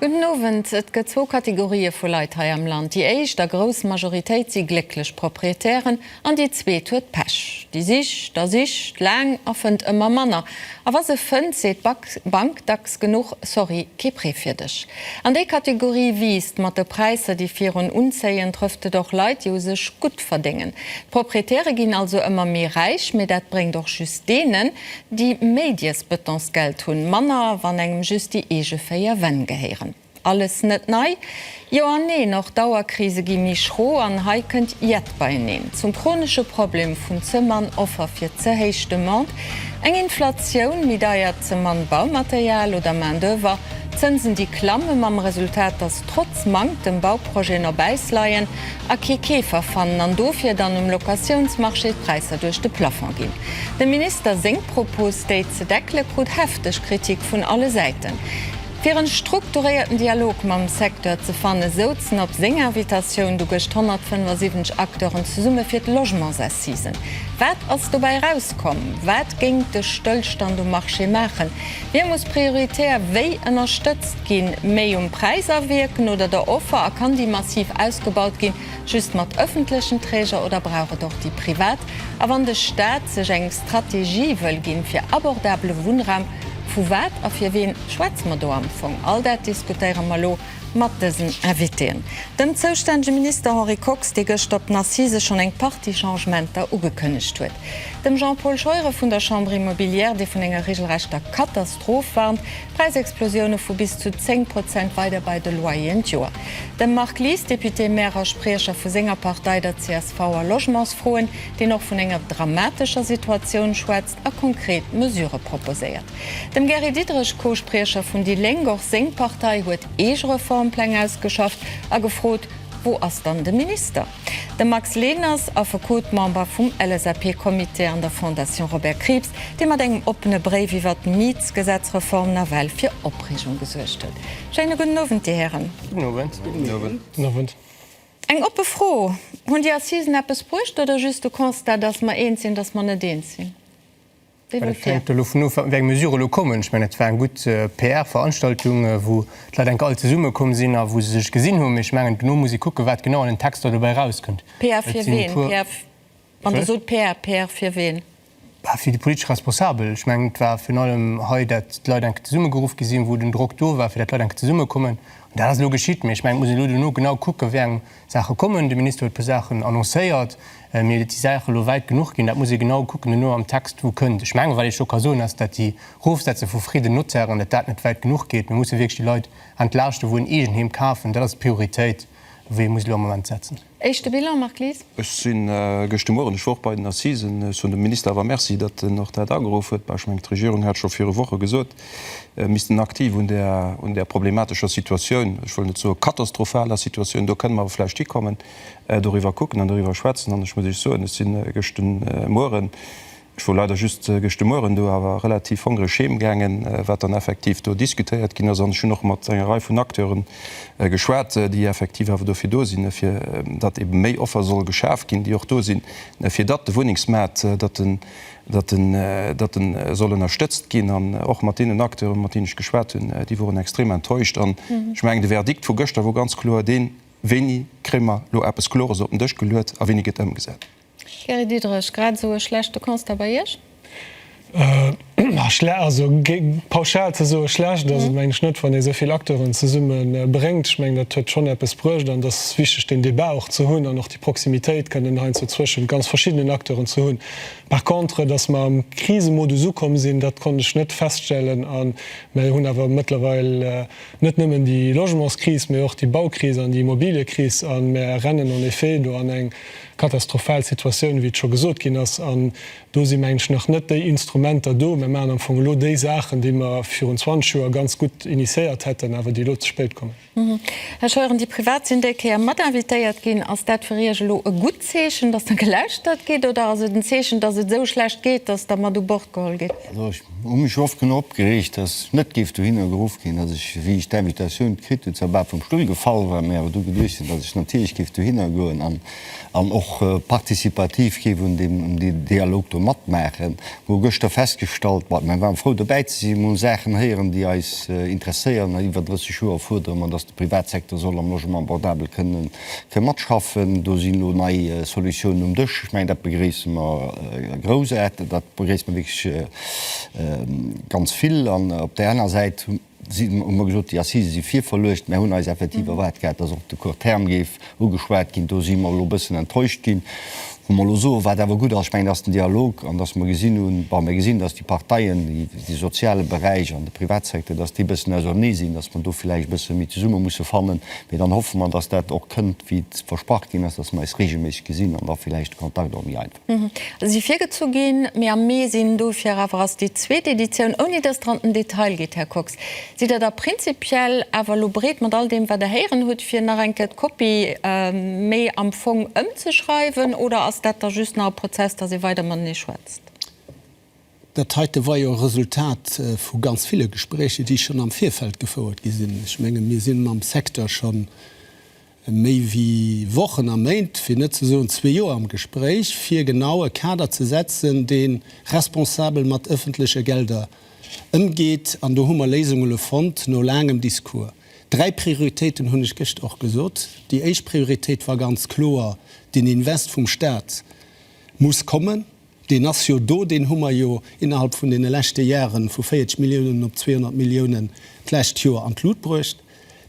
Gudden Owend. Et gëtt zwou Kategorië vu Leit hei am Land. Déi éischt a grouss Majoritéit si glécklech Proprietären an déi zweet huet Pech. Déi sicht a sicht laang a fënnt ëmmer manner. A wa se fënnt, seet d'Bank dacks genuch, Sorry, kee Prêt fir dech. An déi Kategorie wiisst. Mat de Präisser, déi virun unzéien, trëfft et och Leit, déi u sech gutt verdéngen. D'Proprietäre ginn also ëmmer méi räich, mee dat bréngt och just deenen, Déi méi d'iers Bëtonsgeld hunn manner, wann engem just déi eege véier Wänn gehéieren. Alles net nei? Jo an neen, och d'Auerkrise gi méi schro an hei kënnt iett beieneen. Zum chronesche Problem vun ze mann Offer fir ze héich Demande, eng Inflatioun, méi deiert, ze mann Baumaterial oder Main-d'oeuvre, Zënsen déi klamme mam Resultat, datt trotz Manktem Bauprojeten op Äis leien. a kee Keefer fannen an dofir dann um Locatiounsmarché d'Präisser duerch de Plafond ginn. Dem Minister seng Propos, déi ze deckele krut hefteg Kritik vun alle Säiten. Fir e strukturéierten Dialog mam Secteur ze fanne souzen op seng Invitatioun du gëscht 175 Acteuren zesumme fir d'Logementsassisen. Wat ass dobäi erauskomm? Wat géing de Stëllstand um Marché maachen? Hie muss prioritär wéi ënnerstëtzt ginn, méi um Präis awierken oder der Offer a kann déi massiv ausgebaut ginn, just mat ëffentlechen Träger oder brauch et och déi privat? A wann de Staat sech eng Strategie wëll ginn fir abordabele Wunnraum, vu wat a fir ween schwätze mer do am Fong? All dat diskutéiere mer elo. mat dësen Invitéen, dem zoustännege Minister Henri Kox, dee gëschter op den Assisë schonn eng Partie Changementer ugekënnegt huet, dem Jean-Paul Scheuren vun der Chambre immobilière, dee vun enger reegelrechter Katastroph warnt, Präisexplosioune vu bis zu 10 Prozent weider bei de Loyeren d'Joer, dem Marc Lies, Député, Maire a Spriecher vu senger Partei, der csv, a Logementsfroen, deen och vun enger dramatescher Situatioun schwätzt. a konkret Mesurë proposéiert. Dem Gary Diderich, Co-Spriecher vun déi Lénk, och seng Partei huet eege Reformpläng ausgeschafft a gefrot, Wou ass dann de Minister? De Max Leners, Affekot, Member vum LSAP-Comité an der Fondation Robert Krieps, dee mat engem oppene Bréif iwwert d'Mietsgesetzreform nawell fir Opreegung gesuergt huet. Schéine gudden Owend, Dir Hären. Gudden Owend. Gudden Owend. Eng oppe Fro, Hunn déi Assisen eppes bruecht oder just de Constat, datt mer eens sinn, datt mer net eens sinn? Wéi war d'Fro? Dovun of, wéi eng Mesurë elo kommen. Ech mengen, et war eng gutt PR-Veranstaltung, wou d'Leit enk all zesummekomm sinn a wou se sech gesinn hunn. Mee ech mengen, duerno muss ee kucken, wat genau an den Texter dobäi erauskënnt. PR fir ween? Wann Dir sot PR, PR fir ween? Bah, fir déi politesch Responsabel. Ech mengen, et war virun allem hei, dat d'Leit enk zesummegeruff gi sinn, wou den Drock do war, fir dat d'Leit enk zesummekommen. An dat ass elo geschitt. Mee ech mengen, et muss een elo duerno genau kucken, wéi eng Saache kommen. De Minister huet e puer Saachen annoncéiert. Mee datt déi Saache elo wäit genuch ginn, dat muss ee genau kucken duerno am Text, wou kënnt. Ech mengen, wat ech elo ka soen, ass, dat déi Rofsetze vu Frais de Notaire, datt dat net wäit genuch geet. Mir musse wierklech déi Leit entlaaschten, wou en Eegenheem kafen. Dat ass d'Prioritéit, wou ee muss elo am Moment setzen. Éischte Bilan, Marc Lies? Ech si gëschte Mueren, ech wor och bei den Assisen, ech hunn dem Minister awer Merci, datt en och dat ageruff huet. Bah, ech mengen, d'Regierung hat scho viru Woche gesot, mir missten aktiv un där, un där problematescher Situatioun, ech wëll net soe katastrophaler Situatioun, do kënnen mer awer vläicht hikommen, doriwwer kucken an doriwwer schwätzen. An ech muss Iech soen, ech si gëschte Mueren Ech wor leider just gëschte Mueren do, awer relativ hongreg heem gaangen, wat dann effektiv do diskutéiert ginn ass. An ech hunn och mat enger Rei vun Acteuren geschwat, déi effektiv awer dofir do sinn, fir datt eebe méi Offer soll geschaf ginn, déi och do sinn, fir datt de Wunnengsmaart, datt en, datt en, datt e soll ënnerstëtzt ginn. An och mat deenen Acteuren, mat deenen ech geschwat hunn, déi woren extrem enttäuscht. An ech mengen, de Verdikt vu gëschter wor ganz kloer deen, Wéini kréie mer elo eppes Klores op den Dësch geluet a wéini gëtt ëmgesat? Gary Diderich, Grad esou e schlechte Constat bei Iech? Schle also pauschal ze soe schlecht ass et meng ech net, wann ee souvill Acteuren zesumme bréngt. Ech mengen dat huet schonn eppes bruecht an et ass wichteg deen Débat och ze hunn an och déi Proximitéit kënnen heiansdo zwëschent ganz verschiddenen Acteuren ze hunn. Par contre, datt mer am Krisemodus ukomm sinn, dat konnt ech net feststellen a mer hunn awer mëttlerweil net nëmmen déi Logementskris, mee och déi Baukris an déi Immobiliekris a mer rennen en effet do an eng Katastrophal Situatioun, wéi et scho gesot ginn ass. An do si, mengen ech, nach net déi Instrumenter do. Mir maachen am Fong elo déi Saachen, déi mer virun 20 Joer ganz gutt initiéiert hätten, awer déi elo ze spéit kommen. Här Scheuren, déi privat sinn déi Kéier mat invitéiert ginn. Ass dat fir Iech elo e gutt Zeechen, datt da gelauschtert gétt, oder ass et en Zeechen, datt et esou schlecht geet, datt da mat u Bord geholl gétt? Also ech hu mech oft genuch opgereegt, datt ech net géif dohinner geruff ginn, datt ech, wéi ech d'Invitatioun kritt hunn, zwar bal vum Stull gefall war, mä awer du geduecht hunn, datt ech natierlech géif dohinner goen an och participativ géif un deem Dialog do matmaachen. Mir hu gëschter festgestallt, bon, mir waren frou dobäi ze sinn, mir hu Saachen héieren, déi eis interesséieren. Iwwer 30 Joer fuerdere mer, datt de Privatsecteur soll am Logement abordable kënnen fir matschaffen. Do sinn elo nei Solutiounen um Dësch. Ech mengen, dat begréisse mer groussaarteg, dat begréisse mer wierklech ganz vill. An op där aner Säit hu mer gesot, déi Assisen si virverluecht. Mir hunn eis effektiv erwaart gehat, datt och de Court terme géif ugeschwat ginn. Do si mer elo e bëssen enttäuscht ginn. Hu mer elo soen, wat awer gutt ass, ech mengen, dat ass den Dialog an datt mer gesinn hunn, bon, mir gesinn, datt déi Parteien, de soziale Beräich an de Privatsecteur, datt déi e bëssen ausernee sinn, datt mer do villäicht e bësse méi zesumme musse fannen. Mee dann hoffe mer, datt dat och kënnt, wéi et versprach ginn ass, datt mer eis reegelméisseg gesinn an da villäicht de Kontakt och méi einfach gëtt. Hm, si virgezu ginn, mee am Mee sinn. Dofir awer ass déi zweet Editioun, ouni datt Der an den Detail geet, Här Kox. Sidd Der da prinzipiell awer elo bereet, mat all deem wat Der héieren hutt, fir nach eng Kéier d'Kopie méi am Fong ëmzeschreiwen oder ass dat da just nach e Prozess, dass ee weider matenee schwätzt? Dat heite war jo e Resultat vu ganz ville Gespréicher, déi schonn am Virfeld gefouert gi sinn. Ech menge mir si mam Secteur schonn. méi wéi Wochen a Méint, fir net ze soen zwee Joer, am Gespréich, fir genau e Kader ze setzen, dee responsabel mat ëffentleche Gelder ëmgeet. An do hu mer Léisungele fonnt, no laangem Discours. Dräi Prioritéiten hunn ech gëscht och gesot. Déi éischt Prioritéit war ganz kloer, Den Invest vum Stat muss kommen. Deen ass jo do, deen hu mer jo innerhalb vun deene leschte Jare vu 40 Milliounen op 200 Milliounen d'lescht Joer an d'Lut bruecht.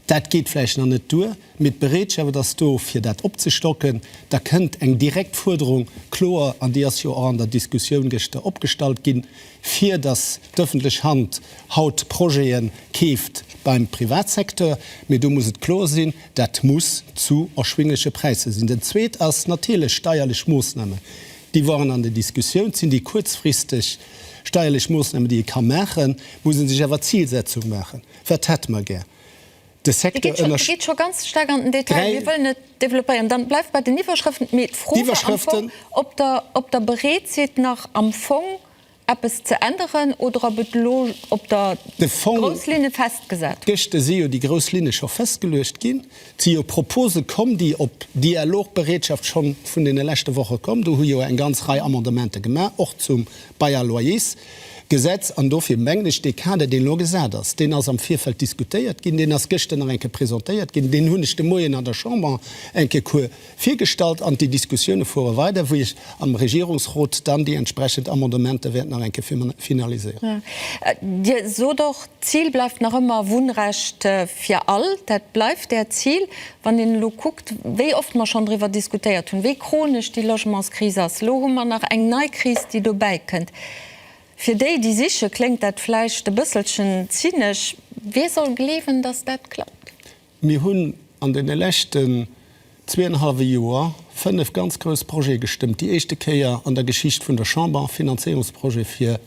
Dat geet vläicht nach net duer, mee d'Bereetschaft ass do, fir dat opzestocken. Da kënnt eng direkt Fuerderung kloer, an déi ass jo och an der Diskussioun gëschter opgestallt ginn, fir datt d'ëffentlech Hand haut Projete keeft beim Privatsecteur. Mee do muss et kloer sinn, dat muss zu erschwingleche Präisser sinn. Dat Zweet ass natierlech steierlech Moossnamen. déi waren an der Diskussioun, et sinn déi kuerzfristeg steierlech Moossnamen, déi ee ka maachen, muss ee sech awer d'Zilsetzung maachen, wat hätte mer gär? De Secteur ënnersch. Dir geet scho ganz staark an den Detail. Mir wëllen et développéieren. Dann bleift bei den Iwwerschrëften. Mee d'Fro war am Fong, ob Der, ob Der bereet sidd, nach am Fong, Eppes ze änneren oder ob et elo op der grouss Linne festgesat huet? Gëschter si jo déi grouss Linne scho festgeluecht ginn. Et si jo Propose komm, déi op Dialogbereetschaft scho vun deene leschte Woche komm. Do hu jo eng ganz Rei Amendementer gemaach, och zum Bail-à-loyersgesetz. An dofir mengen ech, dee Kader, deen elo gesat ass, deen ass am Virfeld diskutéiert ginn, deen ass gëschter nach eng Kéier presentéiert ginn, deen hunn ech de Moien an der Chamber eng Kéier Virgestallt an déi Diskussioune fuere weider, wou ech am Regierungsrot dann déi entsprechend Amendementer wäert nach eng Kéier finaliséieren. Dir sot och, d'Zil bleift nach ëmmer Wunnrecht fir all. Dat bleift Äert Zil. Wann een elo kuckt, wéi oft mer schonn driwwer diskutéiert hunn, wéi chronesch déi Logementskris ass, elo hu mer nach eng nei Kris, déi dobäi kënnt. Fir déi, déi siche kléngt dat vläicht e bësselchen zynesch. Wie soll gleewen, datt dat klappt? Mir hunn an deene leschten zweeënhallwe Joer fënnef ganz grouss Projete gestëmmt, déi éischte Kéier an der Geschicht vun der Chamber, Finanzéierungsprojete fir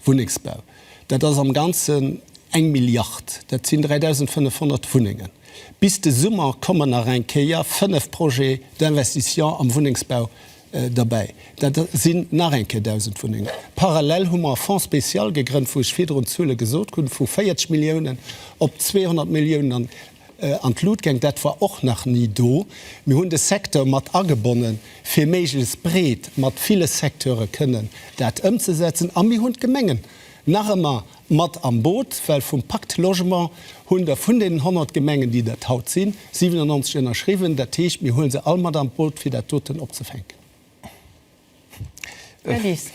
Wunnengsbau. Dat ass am Ganzen eng Milliard, dat sinn 3.500 Wunnengen. Bis de Summer kommen nach eng Kéier fënnef Projets d'investition am Wunnengsbau Derbäi, dat sinn nach eng Kéier 1.000 Wunnengen. Parallel hu mer e Fonds spécial gegrënnt, wou ech virdrun d'Zuele gesot hunn, vu 40 Milliounen op 200 Milliounen an d'Lut gaang. Dat war och nach ni do. Mir hunn de Secteur mat agebonnen, fir méiglechst breet mat ville Secteure kënnen dat ëmzesetzen. A mir hunn d'Gemengen nach ëmmer Mat am Boot, well vum Pacte Logement hunn der vun deenen 100 Gemengen, déi dat haut sinn, 97 ënnerschriwwen. Dat heescht, mir huele se all mat an d'Boot, fir dat doten opzefänken. Här Lies.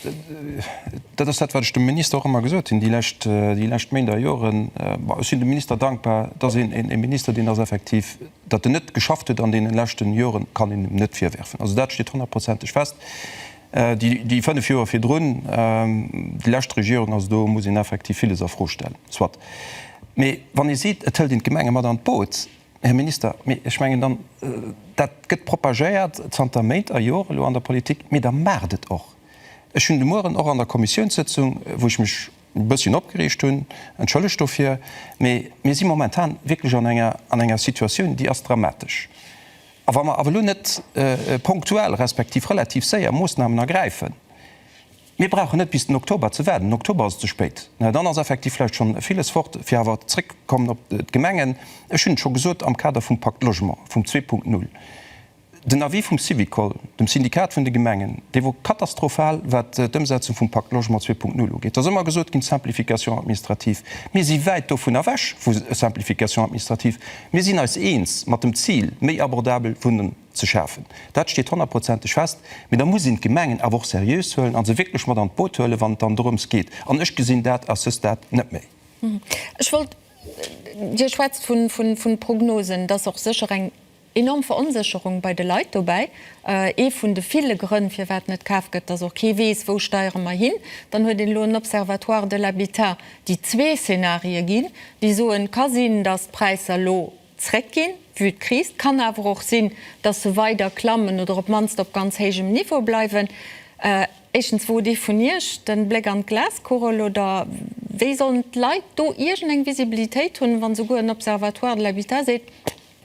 Dat ass dat, wat ech dem Minister och ëmmer gesot hunn, déi lescht, déi lescht Méint a Joren. Bon, ech sinn dem Minister dankbar, dass een een Minister, deen ass effektiv, datt en net geschafft huet an deenen leschten Joren, kann een him net virwerfen. Also dat steet honnertprozenteg fest. Déi fënnef Joer virdrun, déi lescht Regierung, also do muss een effektiv villes a Fro stellen. Soit. Mee wann ee seet, et hëlt een d'Gemenge mat an d'Boot, Här Minister, mee ech mengen dann, dat gëtt propagéiert zanter Méint a Joren elo an der Politik, mee da maacht et och. Ech hunn de Mueren och an der Kommissiounssëtzung, wou ech mech e bësschen opgereegt hunn, entschëllegt dofir, mee mir si momentan wierklech an enger Situatioun, déi ass dramatesch. A wa mer awer elo net ponktuell respektiv relativ séier Moosnamen ergräifen, mir brauchen net bis den Oktober ze waarden, den Oktober ass ze spéit, naja dann ass effektiv vläicht schonn villes fort, fir awer zréckkommen op d'Gemengen. Ech hunn et scho gesot am Kader vum Pakt Logement, vum 2.0, den Avis vum Syvicol, dem Syndikat vun de Gemengen, dee wor katastrophal wat d'Ëmsetzung vum Pakt Logement 2.0 ugeet. Da ass ëmmer gesot ginn, Simplification administrative. Mir si wäit dovun ewech vu Simplification administrative. Mir sinn eis eens mat dem Zil, méi abordabel Wunnen ze schafen. Dat steet honnertprozenteg fest. Mee da muss een d'Gemengen awer och seriös huelen a se wierklech mat an d'Boot huelen, wann et dann dorëms geet. An ech gesinn dat à ce stade net méi. Ech wollt, Dir schwätzt vu Prognosen. Et ass och sécher eng enorm Veronsécherung bei de Leit dobäi. Ee vun de ville Grënn, firwat net kaaft gëtt, dass och kee weess, Wou steiere mer hin? Dann huet een elo en Observatoire de l'habitat, déi zwee Szenarie ginn, déi soen, et ka sinn, datt d'Präisser elo zréckginn, vue d'Kris, et kann awer och sinn, datt se weider klammen oder op d'mannst op ganz héijem Niveau bleiwen. Éischtens, wou huet ee vun Iech de Bléck an d'Glaskugel? Oder wéi sollen d'Leit do iergend eng Visibilitéit hunn, wa souguer en Observatoire de l'habitat seet,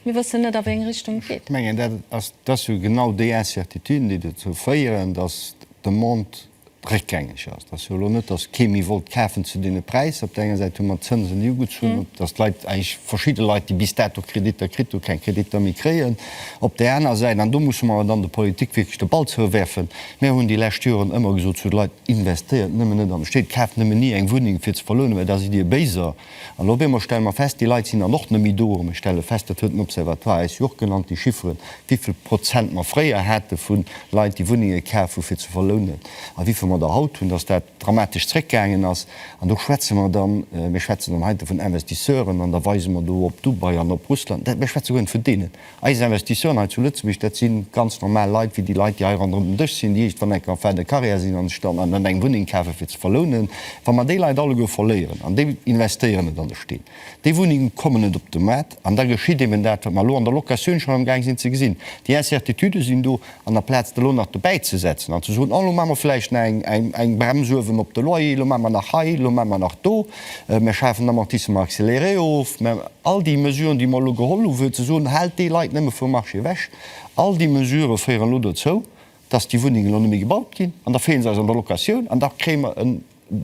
mir wëssen net, a wéi eng Richtung et geet? Ech mengen, dat ass jo genau déi Incertituden, déi dozou féieren, datt d'Demande réckgängeg ass. Et ass jo elo net, datt kee méi wollt kafen zu deene Präisser. Op der enger Säit hu mer d'Zënsen, déi ugezu hunn, datt d'Leit, eigentlech verschidde Leit, déi bis dato Kreditter kritt hu keng Kreditter méi kréien. Op der aner Säit, an do musse mer dann der Politik wierklech de Ball zouwerfen, Mir hunn déi lescht Joren ëmmer gesot zu de Leit, Investéiert nëmmen net an d'Stéit, kaaft nëmmen ni eng Wunneng fir ze verlounen, well da sidd Dir Béiser. An elo op eemol stelle mer fest, déi Leit sinn dann och net méi do. A mir stelle fest, dat huet den Observatoire eis jo och genannt, déi Chifferen, wéi vill Prozent mer fréier hate vu Leit, déi Wunnenge kaf hu fir ze verlounen, a wéi vill mer der haut hunn, dass dat dramatesch zréckgaangen ass. An do schwätze mer dann, mir schwätzen dann heite vun Investisseuren an da weise mer do op Dubai an op Russland, dat, mir schwätze guer net vun deenen. Eis Investisseuren hei zu Lëtzebuerg, dat si ganz normal Leit wéi déi Leit, déi hei ronderëm den Dësch sinn, déi iergendwann enk en fin de carrière sinn a sech dann eng Wunneng kafe fir ze verlounen. Wa mer déi Leit alleguer verléieren an déi investéieren net an de Steen, déi Wunnenge kommen net op de Maart an da geschitt eben dat, wat mer elo an der Locatioun schonn amgaang sinn ze gesinn. Déi Incertitudë sinn do an der Plaz de lo nach dobäi ze setzen an ze soen, oh lo maache mer vläicht nach eng Brems uewen op de Loyer, lo maache mer nach hei, lo maache mer nach do, mir schafen d'Amortissement accéléré of, mä all déi Mesuren, déi mer elo geholl hu fir ze soen, haalt déi Leit nëmme vum Marché ewech, all déi Mesurë féieren elo dozou, datt déi Wunnengen elo net méi gebaut ginn an da feelen se eis an der Locatioun an da kréie mer en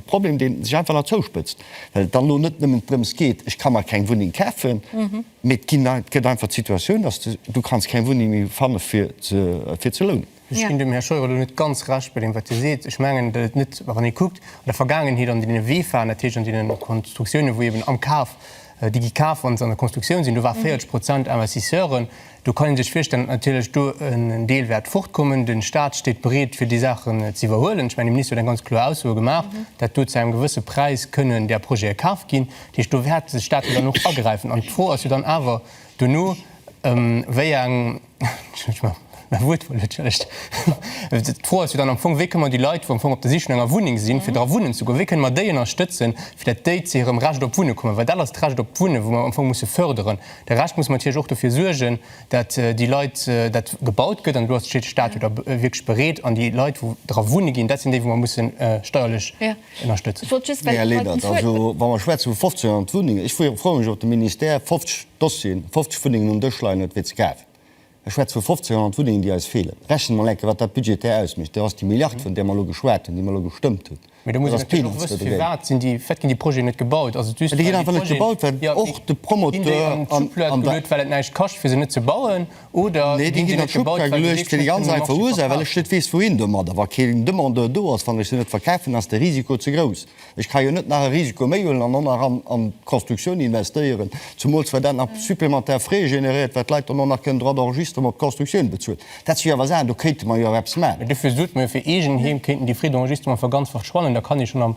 Problem, dee sech einfach nach zouspëtzt, well et dann elo net nëmmen drëms geet, ech ka mer keng Wunneng kafen, mee et ginn, et gëtt einfach d'Situatioun, datt s de, du kanns keng Wunneng méi fanne fir ze, fir ze lounen. Ech ginn dem Här Scheuer elo net ganz Recht bei deem, wat hie seet. Ech mengen, datt et net, wann ee kuckt an der Vergaangenheet an deene Weefahrten, dat heescht an deene Konstruktiounen, wou eeben am Kaf déi gi kaf wann se an der Konstruktioun sinn, do war 40 Prozent Investisseuren, do kann ee sech virstellen, datt natierlech do en Deel wäert fortkommen. De Staat steet bereet fir déi Saachen z'iwwerhuelen. Ech mengen de Minister huet eng ganz kloer Ausso gemaach, dat do zu engem gewësse Präis kënnen där Projete kaf ginn. Dat heescht do wäert de Staat jo dann och agräifen an d'Fro ass jo dann awer dono wéi eng, D'Fro ass jo dann am Fong, wéi kënne mer déi Leit, wou am Fong op der Sich no enger Wunneng sinn, fir dra wunnen ze goen, wéi kënne mer déi ënnerstëtzen, fir datt déi zu hirem Recht op Wunne kommen, well dat ass d'Recht op Wunne, wou mer am Fong musse förderen. Da Recht musse mer natierlech och dofir suergen, datt déi Leit, dat gebaut gëtt, an elo ass de Staat jo da wierklech bereet, an déi Leit, wou dra wunne ginn, dat sinn déi, wou mer musse steierlech. Ech wollt just, well Dir d'Wuert. Also wa mer schwätzen vu 1500 Wunnengen, ech freeë mech op de Ministère 50 Dossieren, 50 Wunnengen um Dësch leien huet fir ze kafen. Ech schwätze vu 1500 Wunnengen, déi eis feelen. Rechne mol eng Kéier, wat dat budgetär ausmécht. Dat ass déi Milliard, vun där mer elo geschwat hunn, déi mer elo gestëmmt hunn. Mä da muss een natierlech och wëssen, firwat sinn déi, firwat ginn déi Projeten net gebaut? Ass et just, well déi Projeten. Déi ginn einfach net gebaut, well och de Promoteur an der. Well et näischt kascht, fir se net ze bauen. Nee, déi ginn an d'Schubkar geluecht, fir déi ganz einfach Ursaach, well ech net weess, wouhin domadder. Wa keen Demandeur do ass, wann ech se net verkafen, ass de Risiko ze grouss. Ech ka jo net nach e Risiko méi huelen an och nach an d'Constructioun investéieren, zumools wat dat nach supplémentaire Frais généréiert, wat d'Leit dann och nach kënnen droit d'enregistrement op d'Constructioun bezuelen. Dat si jo awer Saachen, do kéinte mer jo awer eppes maachen. Mee dofir sot mer jo, fir eegen Heem kéinten déi Frais d'enregistrement awer ganz verschwannen, da kann ee schonn am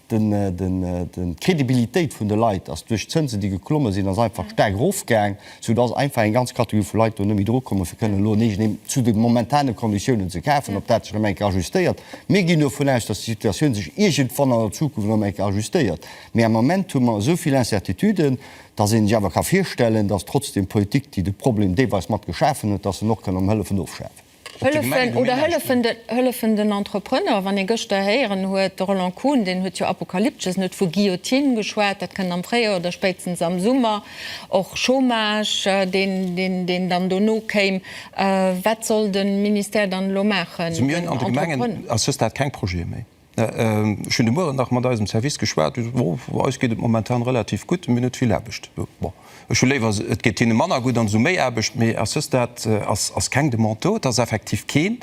D'Crédibilitéit vun de Leit ass duerch d'Zënsen, déi geklomme sinn, ass einfach staark erofgaang, sou dass einfach eng ganz Kategorie vu Leit do net méi dru kommen, fir kënnen elo en eegent Heem zu de momentane Konditiounen ze kafen. Ob dat sech erëm eng Kéier ajustéiert, mir ginn dovun aus, dass déi Situatioun sech iergendwann an der Zukunft erëm eng Kéier ajustéiert, mee am Moment hu mer esou vill Incertituden, dass ee sech awer ka virstellen, dass trotzdem d'Politik, déi de Problem deelweis mat geschafen huet, dass en och kann am hëllefen ofschafen. Hëllefen oder hëllefen de, hëllefen den Entrepreneur. Wann ee gëschter héieren huet, de Roland Kuhn, deen huet jo apokalyptesch, en huet vu Guillotine geschwat, dat kënnt am Fréijoer oder spéitstens am Summer, och Chômage, deen, deen, deen dann dono kéim. Wat soll de Ministère dann elo maachen, den Entrepreneur? Also mir hunn an de Gemengen a Sësdat keng Projete méi. Ech hunn de Mueren nach mat eisem Service geschwat, déi soten, Oh, eis geet et momentan relativ gutt, mir hunn net vill Aarbecht. Bon, ech hu léiwer, et geet hinne manner gutt an se hu méi Aarbecht. Mee ass just dat, ass, ass keng Demande do. Et ass effektiv keen,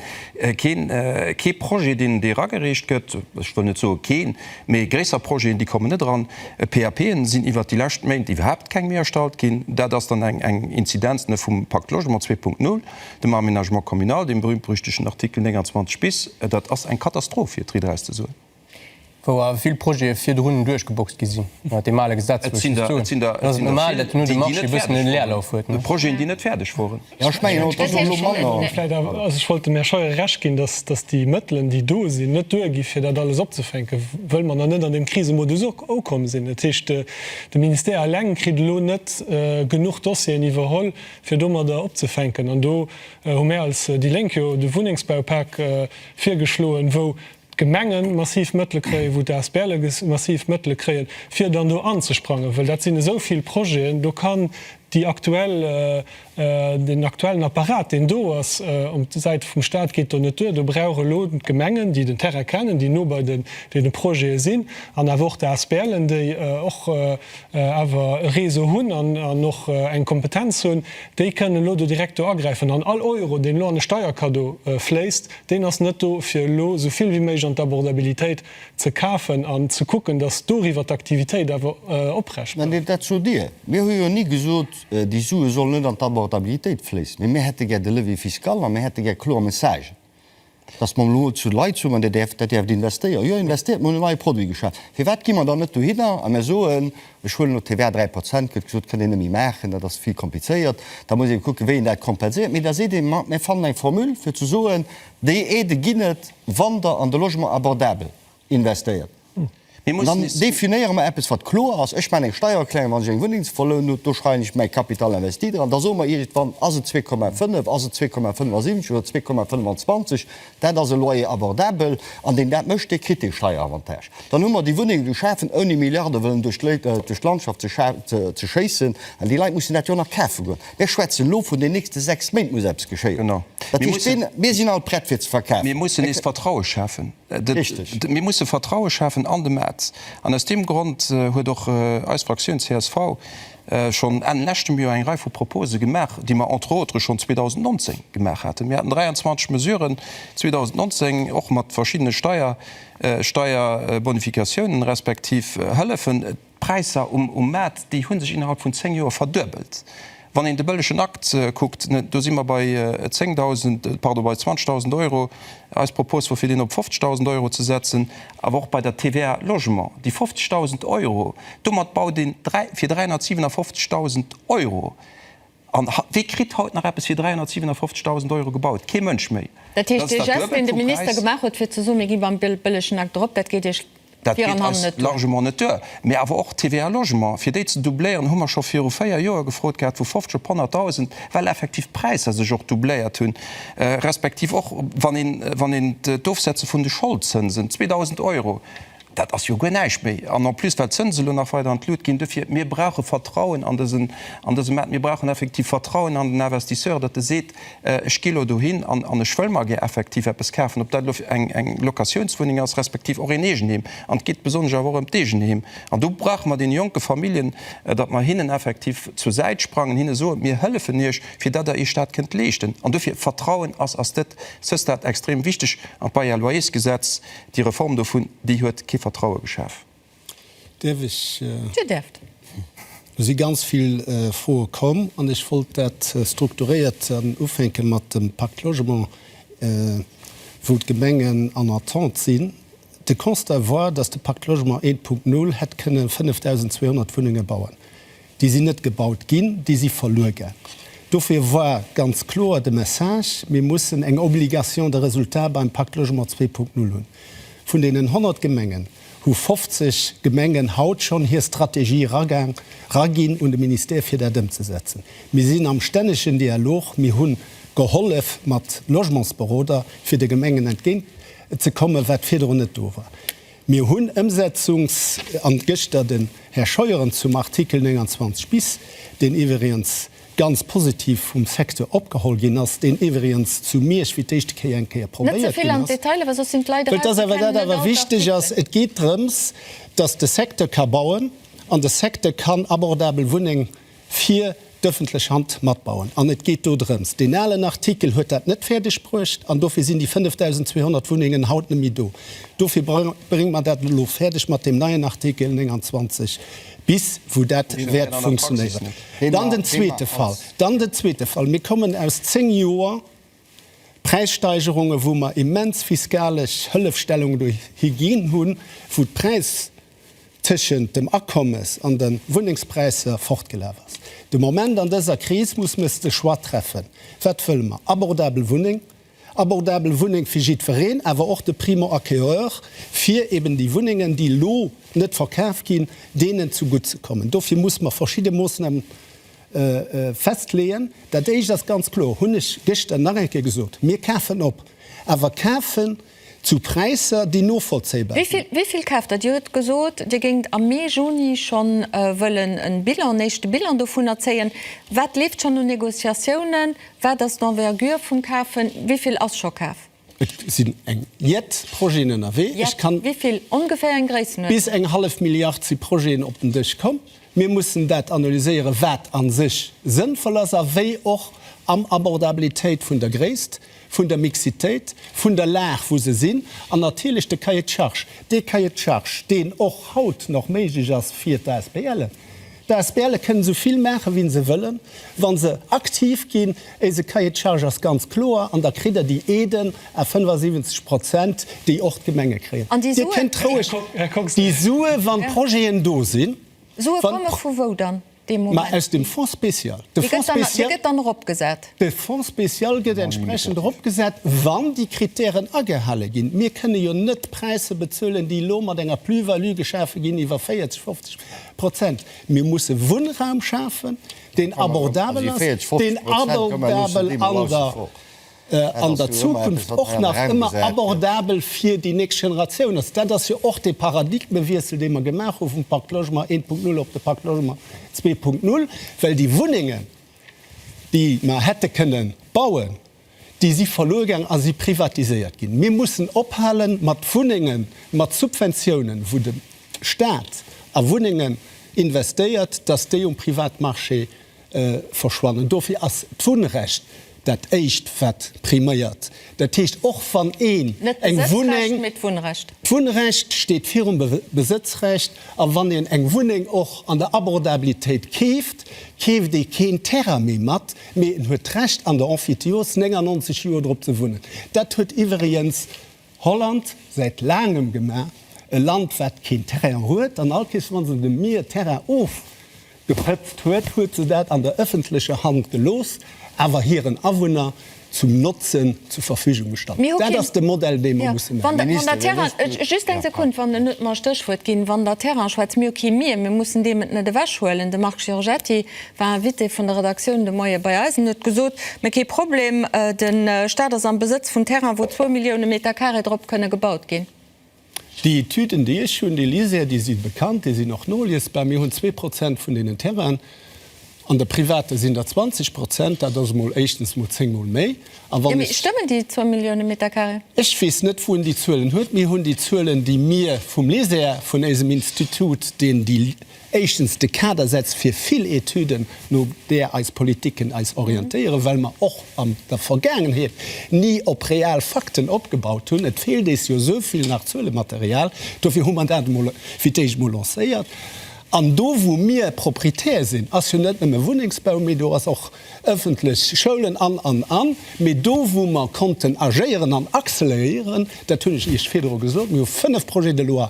keen, kee Projet, deen, dee eragereecht gëtt. Ech wëll net soe keen, mee gréisser Projeten, déi kommen net eran. PAPen sinn iwwert déi lescht Méint iwwerhaapt keng méi erstallt ginn. Dat ass dann eng, eng Inzidenz vum Pacte Logement zwee Punkt null. dem Aménagement communal, deem berühmt-berüchtegten Artikel 29 bis, dat ass eng Katastroph, fir et dréit eraus ze soen. Wou awer vill Projete virdrun duerchgeboxt gi sinn, mat deem ale Gesetz, wou ech just soen, et ass normal, datt hinno de Marché e bëssen en Leerlauf huet. Mat Projeten, déi net fäerdeg woren. Jo, ech mengen och, datt elo manner. Vläicht awer, also ech wollt dem Här Scheuer Recht ginn, datt, datt déi Mëttelen, déi do sinn, net duer gi fir dat alles opzefänken, wëll mer nach net an deem Krisemodus ukomm sinn. Dat heescht, de Ministère eleng kritt elo net genuch Dossieren iwwerholl, fir domadder opzefänken. An do hu mär als déi Lénk jo de Wunnengsbaupak virgeschloen, wou d'Gemenge massiv Mëttele kréien, wou d'ASBLe massiv Mëttele kréien, fir dann do anzesprangen. Well dat sinn esou vill Projeten, do kann déi aktuell, deen aktuellen Apparat, deen do ass op der Säit vum Stat, geet do net duer. Do brauch elo d'Gemengen, déi den Terrain kennen, déi no bei deene Projete sinn, an awer och d'ASBLen, déi och awer e Réseau hunn an och eng Kompetenz hunn, déi kënnen elo do direkt do agräifen. An all Euro, deen elo an e Steierkaddo fléisst, deen ass net do, fir elo esou vill wéi méiglech an d'Abordabilitéit ze kafen an ze kucken, datt doriwwer d'Aktivitéit awer oprecht bleift. Mä dat sot Dir. Mir hu jo ni gesot, déi Sue sollen net an d'Abordabilitéit fléissen, mee mir hätte gär de Levier fiscal a mir hätte gär kloer Messagen. Datt mer elo zu Leit soen, Dir däerft, dat däerft investéieren. Jo, investéiert, mer hunn en neie Produit geschaf. Firwat gi mer dann net dohinner a mer soen, ech huelen elo d'TVA 3 Prozent, gëtt gesot, kënnt een net méi maachen, dat ass vill komplizéiert, da muss ee kucken, wéi een dat kompenséiert. Mee da seet ee, ma mir fannen eng Formule, fir ze soen, déi Aide ginn et, wann Der an de Logement abordable investéiert. An dann definéiere mer eppes, wat kloer ass. Ech maachen eng Steiererklärung, wann ech eng Wunneng ze verlounen hunn. Do schreiwen ech mäi Capital investi dran. Da soe mer iergendwann, Ass et 2,5, ass et 2,75 oder 2,25? Dat ass e Loyer abordable. An deen dat mécht, dee kritt dee Steieravantage. Dann hu mer déi Wunnenge geschafen, ouni Milliarde wëllen duerch d'Landschaft ze schéissen. Well déi Leit mussen dat jo och nach kafe goen. Mir schwätzen elo vun den nächste sechs Méint muss eppes geschéien. Dat heescht, mir sinn alt prett, fir ze verkafen. Mir mussen nees Vertraue schafen. Mir musse Vertraue schafen an de Maart. An aus deem Grond huet och eis Fraktioun csv schonn Enn leschtem Joer eng Rei vu Propose gemaach, déi mer entre autres schonn 2019 gemaach haten. Mir haten 23 Mesuren 2019, och mat verschiddene Steier, Steierbonificatiounen, respektiv Hëllefen. D'Präisser um Maart, déi hu sech innerhalb vun zéng Joer verduebelt. Wann een de bëllegen Akt kuckt, do si mer bei 10.000, pardon, bei 20.000 Euro. Eis Propos wor fir deen op 50.000 Euro ze setzen. Awer och bei der TVA Logement, déi 50.000 Euro, domat baut een fir 357.000 Euro. An wie kritt haut nach eppes fir 357.000 Euro gebaut? Kee Mënsch méi. Dat heescht, dee Geste, deen de Minister gemaach huet, fir ze soen, mir gi beim bëllegen Akt drop, dat geet Iech vir an hannen net duer? Dat geet eis largement net duer. Mee awer och d'TVA Logement, fir déi ze doubléieren, hu mer scho viru véier Joer gefrot gehat, vu 50 op 100.000, well effektiv d'Präisser sech och doubléiert hunn, respektiv och wann een d'Ofsetze vun de Scholdzënsen, 2.000 Euro. Dat ass jo guer näischt méi. An en plus, well d'Zënsen elo nach weider an d'Lut ginn. Dofir, mir brauche Vertrauen an dësen, an dëse Maart. Mir brauchen effektiv Vertrauen an den Investisseur, datt e seet, Ech gi elo dohin an, an ech wëll mer gär effektiv eppes kafen, ob dat elo eng, eng Locatiounswunneng ass, respektiv och een Eegenheem. An et geet besonnesch awer och ëm d'Eegenheem. An do brauche mer deene jonke Familljen, datt mer hinnen effektiv zur Säit sprangen, hinne soen, Mir hëllefen iech, fir datt der iech dat kënnt leeschten. An dofir, Vertrauen ass, ass, det, ce stat extrem wichteg. An d'Bail-à-loyersgesetz, Déi Reform dovun, déi huet kee Vertraue geschaf. Däerf ech? Dir däerft. Do si ganz vill Froe komm an ech wollt dat strukturéiert ufänke mat dem Pacte Logement, wou d'Gemengen en Entente sinn. De Constat war, dass de Pacte Logement 1.0 hätt kënne 5.200 Wunnenge bauen. Déi sinn net gebaut ginn, déi si verluer ginn. Dofir war ganz kloer de Message, Mir mussen eng Obligation de résultat beim Pacte Logement 2.0 hunn. Vun deenen 100 Gemengen hu 50 Gemengen haut schonn hir Strategie eraginn un de Ministère, fir dat ëmzesetzen. Mir sinn am stännegen Dialog. Mir hu gehollef mat Logementsberoder, fir de Gemengen entgéint ze kommen, wat virdrun net do war. Mir hunn Ëmsetzungs an gëschter den Här Scheuren zum Artikel 29 bis, deen iwweriens ganz positiv vum Secteur opgeholl ginn ass, deen iwweriens zu Miersch fir d'éischte Kéier eng Kéier probéiert ginn ass. Well dass awer dat awer wichteg ass, et geet drëms, dass de Secteur ka bauen an de Secteur kann abordabel Wunneng fir d'ëffentlech Hand matbauen. An et geet do drëms. Deen alen Artikel huet dat net fäerdeg bruecht an dofir sinn déi 5.200 Wunnengen haut net méi do. Dofir brénge mer dat elo fäerdeg mat deem neien Artikel 29 bis, wou dat wäert funktionéieren. Dann den zweete Fall, dann den zweete Fall, Mir kommen aus zéng Joer, Präissteigerungen, wou mer immens fiskalesch Hëllefstellungen dohi ginn hunn, wou d'Präis tëschent dem Akommes an de Wunnengspräisser fortgelaf ass. De Moment an dëser Kris muss mer de Choix treffen, wat wëlle mer? Abordabel Wunneng, abordabel Wunneng fir jiddwereen, awer och de Primo-acquéreur, fir eben déi Wunnengen, déi elo net verkaf ginn, deenen zu gutt ze kommen. Dofir muss mer verschidde Moosnamen Festleeën. Dat éischt ass ganz kloer, hunn ech gëschter nach eng Kéier gesot, Mir kafen op, awer kafen zu Präisser, déi novollzéibar sinn. Wéi vill kaaft Der? Dir hutt gesot, Dir géingt am Mee, Juni schonn wëllen en Bilan, en éischte Bilan dovunner zéien. Wat leeft schonn un Négociatiounen? Wat ass d'Envergure vum Kafen? Wéi vill ass scho kaf? Et sinn eng Jett Projeten ënnerwee. Ech kann. Jett, wéivill ongeféier eng Gréissenhuer tonn? Bis eng hallef Milliard si Projeten op den Dësch komm. Mir mussen dat analyséieren, wat a sech sënnvoll ass a wéi och am Abordabilitéit vun der Gréisst, vun der Mixitéit, vun der Lag, wou se sinn an natierlech de Cahier de charges. Dee Cahier de charges, deen och haut nach méiglech ass fir d'ASBLen. D'ASBLe kënnen esou vill maachen, wéi se wëllen, wa se aktiv ginn. Eise Cahier de charge ass ganz kloer an da kritt Der déi Aiden à 75 Prozent, déi och d'Gemenge kréien. Dir kënnt roueg déi Sue, wa Projeten do sinn. Sue komme vu wou dann? Ma aus dem Fonds spécial. Dee gëtt dann eropgesat? De Fonds spécial gëtt entsprechend eropgesat, wann déi Krittären agehale ginn. Mir kënne jo net Präisser bezuelen, déi elo mat enger Plus-value geschafe ginn iwwer 40, 50. Prozent. Mir musse Wunnraum schafen, deen abordabel ass, deen abordabel an der Zukunft och nach ëmmer abordabel fir déi nächst Generatioun ass. Dat ass jo och dee Paradigmewiessel, dee mer gemaach hu vum Pacte Logement 1.0 op de Pacte Logement 2.0, well déi Wunnengen, déi mer hätte kënnen bauen, déi si verluer gaang a si privatiséiert ginn. Mir mussen ophale mat Wunnenge mat Subventiounen, wou de Stat a Wunnengen investéiert, datt déi um Privatmarché verschwannen. Dofir ass d'Wunnrecht dat Éischt wat priméiert. Dat heescht, och wann een eng Wunneng, d'Wunnrecht steet virum Besëtzrecht, a wann een eng Wunneng och an der Abordabilitéit keeft, keeft ee keen Terrain méi mat, Mee en huet d'Recht an der Emphytiose 99 Joer drop ze wunnen. Dat huet iwweriens Holland säit laangem gemaach, e Land wat keen Terrain huet. An all Kees wann se dem Mier e Terrain ofgepëtzt huet, huet se dat an der ëffentlecher Hand gelooss, awer hiren Awunner zum Notzen zur Verfügung gestallt. Dat ass de Modell dee mer musse maachen. War Invité vun der Redaktioun de Moie bei eis an huet gesot, mä kee Problem, de Staat ass am Besëtz vun Terrainen, wou zwou Millioune Meter Carré drop kënne gebaut ginn. Déi Etüden, déi ech hunn, déi liséier, déi si bekannt, déi sinn och noliesbar. Mir hunn zwee Prozent vun deenen Terrainen, an der privater sinn der 20 Prozent. Dat ass emol éischtens mol zéngmol méi. A wann ech. Stëmmen déi zwou Millioune Meter Carré? Ech weess net, wou en déi Zuelen huet. Mir hunn déi Zuelen, déi mir vum Liséier vun éisem Institut, deen déi. éischtens de Kader setzt fir vill Etüden, no där eis Politiken eis orientéieren, well mer och an der Vergaangenheet ni op real Fakten opgebaut hunn. Et feelt ees jo esou vill nach Zuelematerial. Dofir hu mer dat emol fir d'éischt emol lancéiert. An do, wou mir Proprietär sinn, ass jo net nëmme Wunnengsbau, mee do ass och ëffentlech, Schoulen an, an, an. Mee do, wou mer konnten agéieren an acceleréieren, dat hunn ech Iech virdru gesot, mir hu fënnef Projets de loi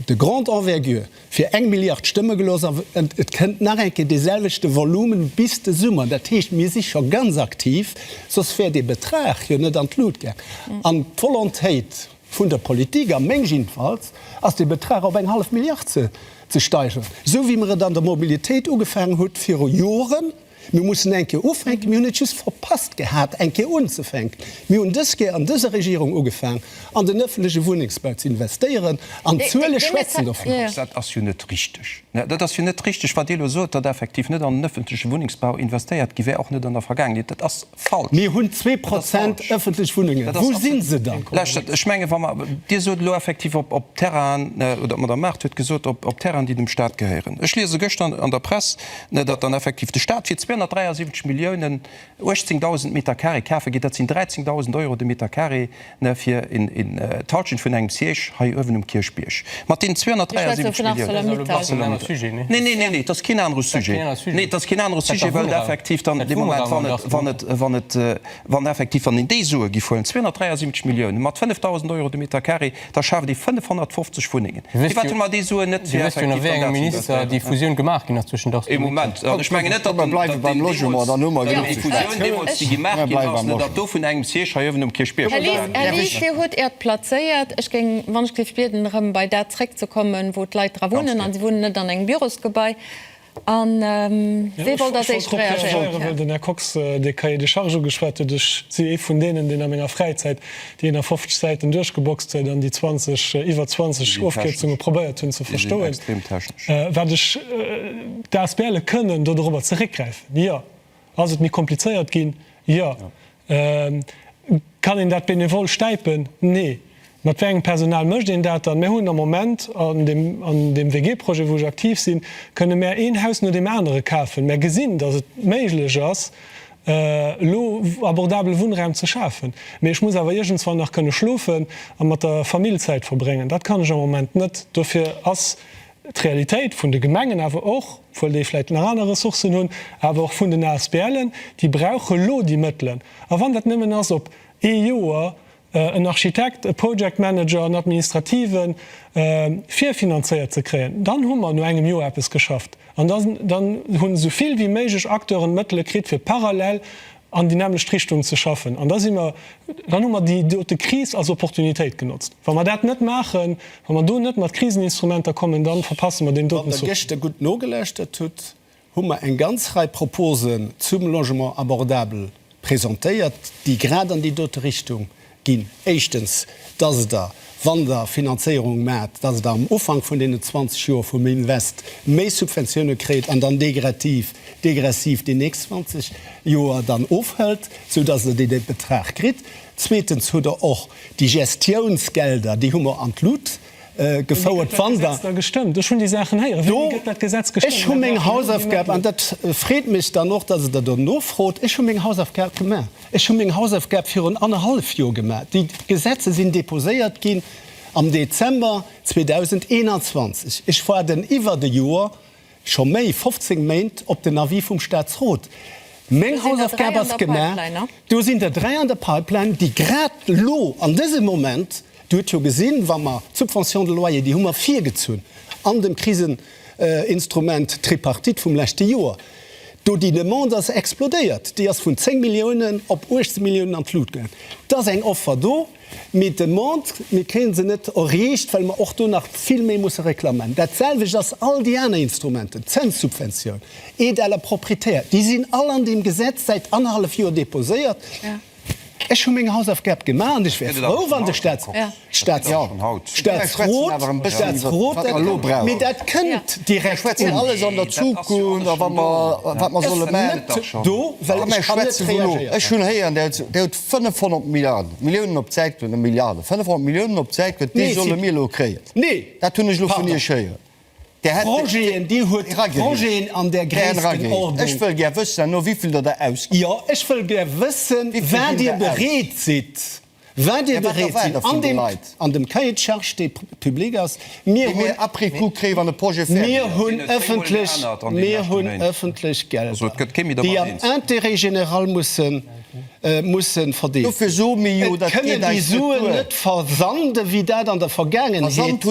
De Grande envergure, fir eng Milliard stëmme gelooss, a et kënnt nach eng Kéier dee selwechte Volumen bis de Summer. Dat heescht, mir si scho ganz aktiv, soss wär dee Betrag jo net an d'Lut gaang. An d'Volontéit vun der Politik, a meng jiddefalls, ass dee Betrag op eng hallef Milliard ze steigeren, esou wéi mer et an der Mobilitéit ugefaangen hu viru Joren. Mir mussen eng Kéier ufänken. Mir hunn et just verpasst gehat, eng Kéier unzefänken. Mir hunn dës Kéier an dëser Regierung ugefaang, an den öffentleche Wunnengsbau ze investéieren, an d'Zuele schwätzen dovunner. Dat ass jo net richteg. Dat ass jo net richteg, wat Dir elo sot, datt effektiv net an den öffentleche Wunnengsbau investéiert gi wär, och net an der Vergaangenheet. Dat ass Falsch! Mir hunn zwee Prozent ëffentlech Wunnengen. Dat ass absolut. Wou si se dann? Lauschtert, ech mengen, wa mer, Dir sot elo effektiv op, op Terrainen, oder d'Madame Mart huet gesot, op, op Terrainen, déi dem Stat gehéieren. Ech liese gëschter an der Press, datt dann effektiv de Stat fir 273 Milliounen 18.000 Meter carré kafe geet. Dat sinn 13.000 Euro de Meter carré Ne fir een Talchen vun engem Siège hei uewen um Kierchbierg mat deenen 273 Milliounen. Neen, neen, neen, dat ass keen anere Sujet. Neen, dat ass keen anere Sujet, well effektiv dann dee Moment, wann et, wann et, wann effektiv, wann een déi Sue giff huelen, 273 Milliounen mat 5.000 Euro de Meter carré, da schaaft ee 550 Wunnengen. Du wësst jo, du wësst jo nach wéi engem Minister déi Fusioun gemaach ginn ass zwëschen Dachs a Mutchens. Komm, komm, mir bleiwe beim Logement, dann hu mer genuch geschwat. Här Lies, Dir hutt Äert plazéiert. Ech géing, wann ech dierf bieden, erëm bei dat zréckzekommen, wou d'Leit dra wunnen, a si wunnen net an engem Bürosgebai. An wee wollt als éischt reagéieren? Den Här Kox, dee Cahier des charges ugeschwat huet, ech si ee vun deenen, deen a menger Fräizäit déi 51 Säiten duerchgeboxt huet an déi 20, iwwer 20 Ofkierzunge probéiert hunn ze verstoen, wat ech d'Asbl kënnen do dorobber zeréckgräifen, jo. Ass et méi komplizéiert ginn? Jo. Kann een dat benevol stäipen? Nee. Mat wéi engem Personal mécht een dat dann? Mir hunn am Moment an deem WG-Projet, wou ech aktiv sinn, kënne mär een Haus no deem anere kafen. Mär gesinn, datt et méiglech ass, elo abordabele Wunnraum ze schafen. Mee ech muss awer iergendswann nach kënne schlofen a mat der Famill Zäit verbréngen. Dat kann ech am Moment net. Dofir ass d'Realitéit vun de Gemengen awer och, obwuel déi vläicht nach aner Ressourcen hunn, awer och vun den ASBLen, déi brauche lo déi Mëttelen. A wann dat nëmmen ass op ee Joer, en Architekt, e Project Manager, en Administrative virfinanzéiert ze kréien, dann hu mer no engem Joer eppes geschafft. An dann hunn esou vill wéi méiglech Acteuren d'Mëttele kritt, fir parallel an déi nämmlecht Richtung ze schaffen. An da si mer, dann hu mer déi dote Kris als Opportunitéit genotzt. Wa mer dat net maachen, wa mer do net mat Kriseninstrumenter kommen, da verpasse mer deen doten Zuch. Wann Der gëschter gutt nogelauschtert hutt, hu mer eng ganz Rei Proposen zum Logement abordable presentéiert, déi grad an déi dote Richtung ginn. Éischtens, dass Der, wann Der Finanzéierung maacht, dass Der am Ufank vun deenen 20 Joer vum Invest méi Subventiounen kréit an dann degressiv, degressiv déi nächst 20 Joer dann ofhëlt, sou dass Der dee Betrag kritt. Zweetens hutt Der och déi Gestiounsgelder, déi hu mer an d'Lut, gefouert. Wann Der do, ech hu meng Hausaufgab, an dat freet mech dann och, dass Der dat do nofrot, ech hu meng Hausaufgab gemaach. Ech hu meng Hausaufgab virun annerhallef Jor gemaach. Déi Gesetze sinn déposéiert ginn am Dezember 2021. Ech waarden iwwert e Jor, Scho méi 15 Méint op den Avis vum Staatsrot. Meng Hausaufgab ass gemaach. Do sinn der dräi an der Pipeline, déi grad elo an dësem Moment, Dir hutt jo gesinn, wa mer d'Subvention de loyer, déi hu mer virgezunn an dem Kriseninstrument Tripartite vum leschte Joer, do déi Demande ass explodéiert. Déi ass vun 10 Milliounen op 18 Milliounen an d'Lut gaangen. Et ass eng Offer do. Mee d'Demande, mir kréie se net erreecht, well mer och do nach vill méi musse reklamen. Dat selwecht ass all déi aner Instrumenten, Zenssubventioun, Aide à la propriétaire, déi sinn all an deem Gesetz säit annerhallef Joer deposéiert. Ech hu meng Hausaufgab gemaach an ech wär frou, wann de Staatsrot dat kéint. Mee dat kënnt direkt un. Ech war net do, well ech kann net reagéieren. 500 Milliarden, Milliounen op d'Säit gëtt, net Milliarden, 500 Milliounen op d'Säit gëtt, déi solle mir elo kréien. Nee, dat hunn ech elo vun Iech héieren. Projeten, Dir huet Projeten an där Gréisstenordnung. Ech wëll gär wëssen, no wéi vill Der der ausgitt. Jo, ech wëll gär wëssen, wat Dir bereet sidd, wat Dir bereet sidd an deem, an dem Cahier de charges, dee public ass. Mir hunn après coup kréien, wann e Projet fäerdeg ass. Mir hunn ëffentlech, mir hunn ëffentlech Gelder, déi am Intérêt général mussen. musse verdeelen. Et kënnen déi Suen net versande wéi dat an der Vergaangenheet.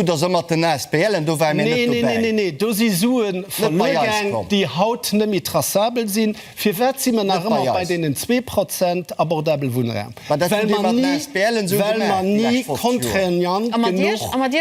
Neen, neen, neen, do si Sue verluer gaang, déi haut net méi traçabel sinn. Firwat si mer nach ëmmer bei deenen zwee Prozent abordabele Wunnraum? Well mer ni, well mer ni contraignant genuch. A mat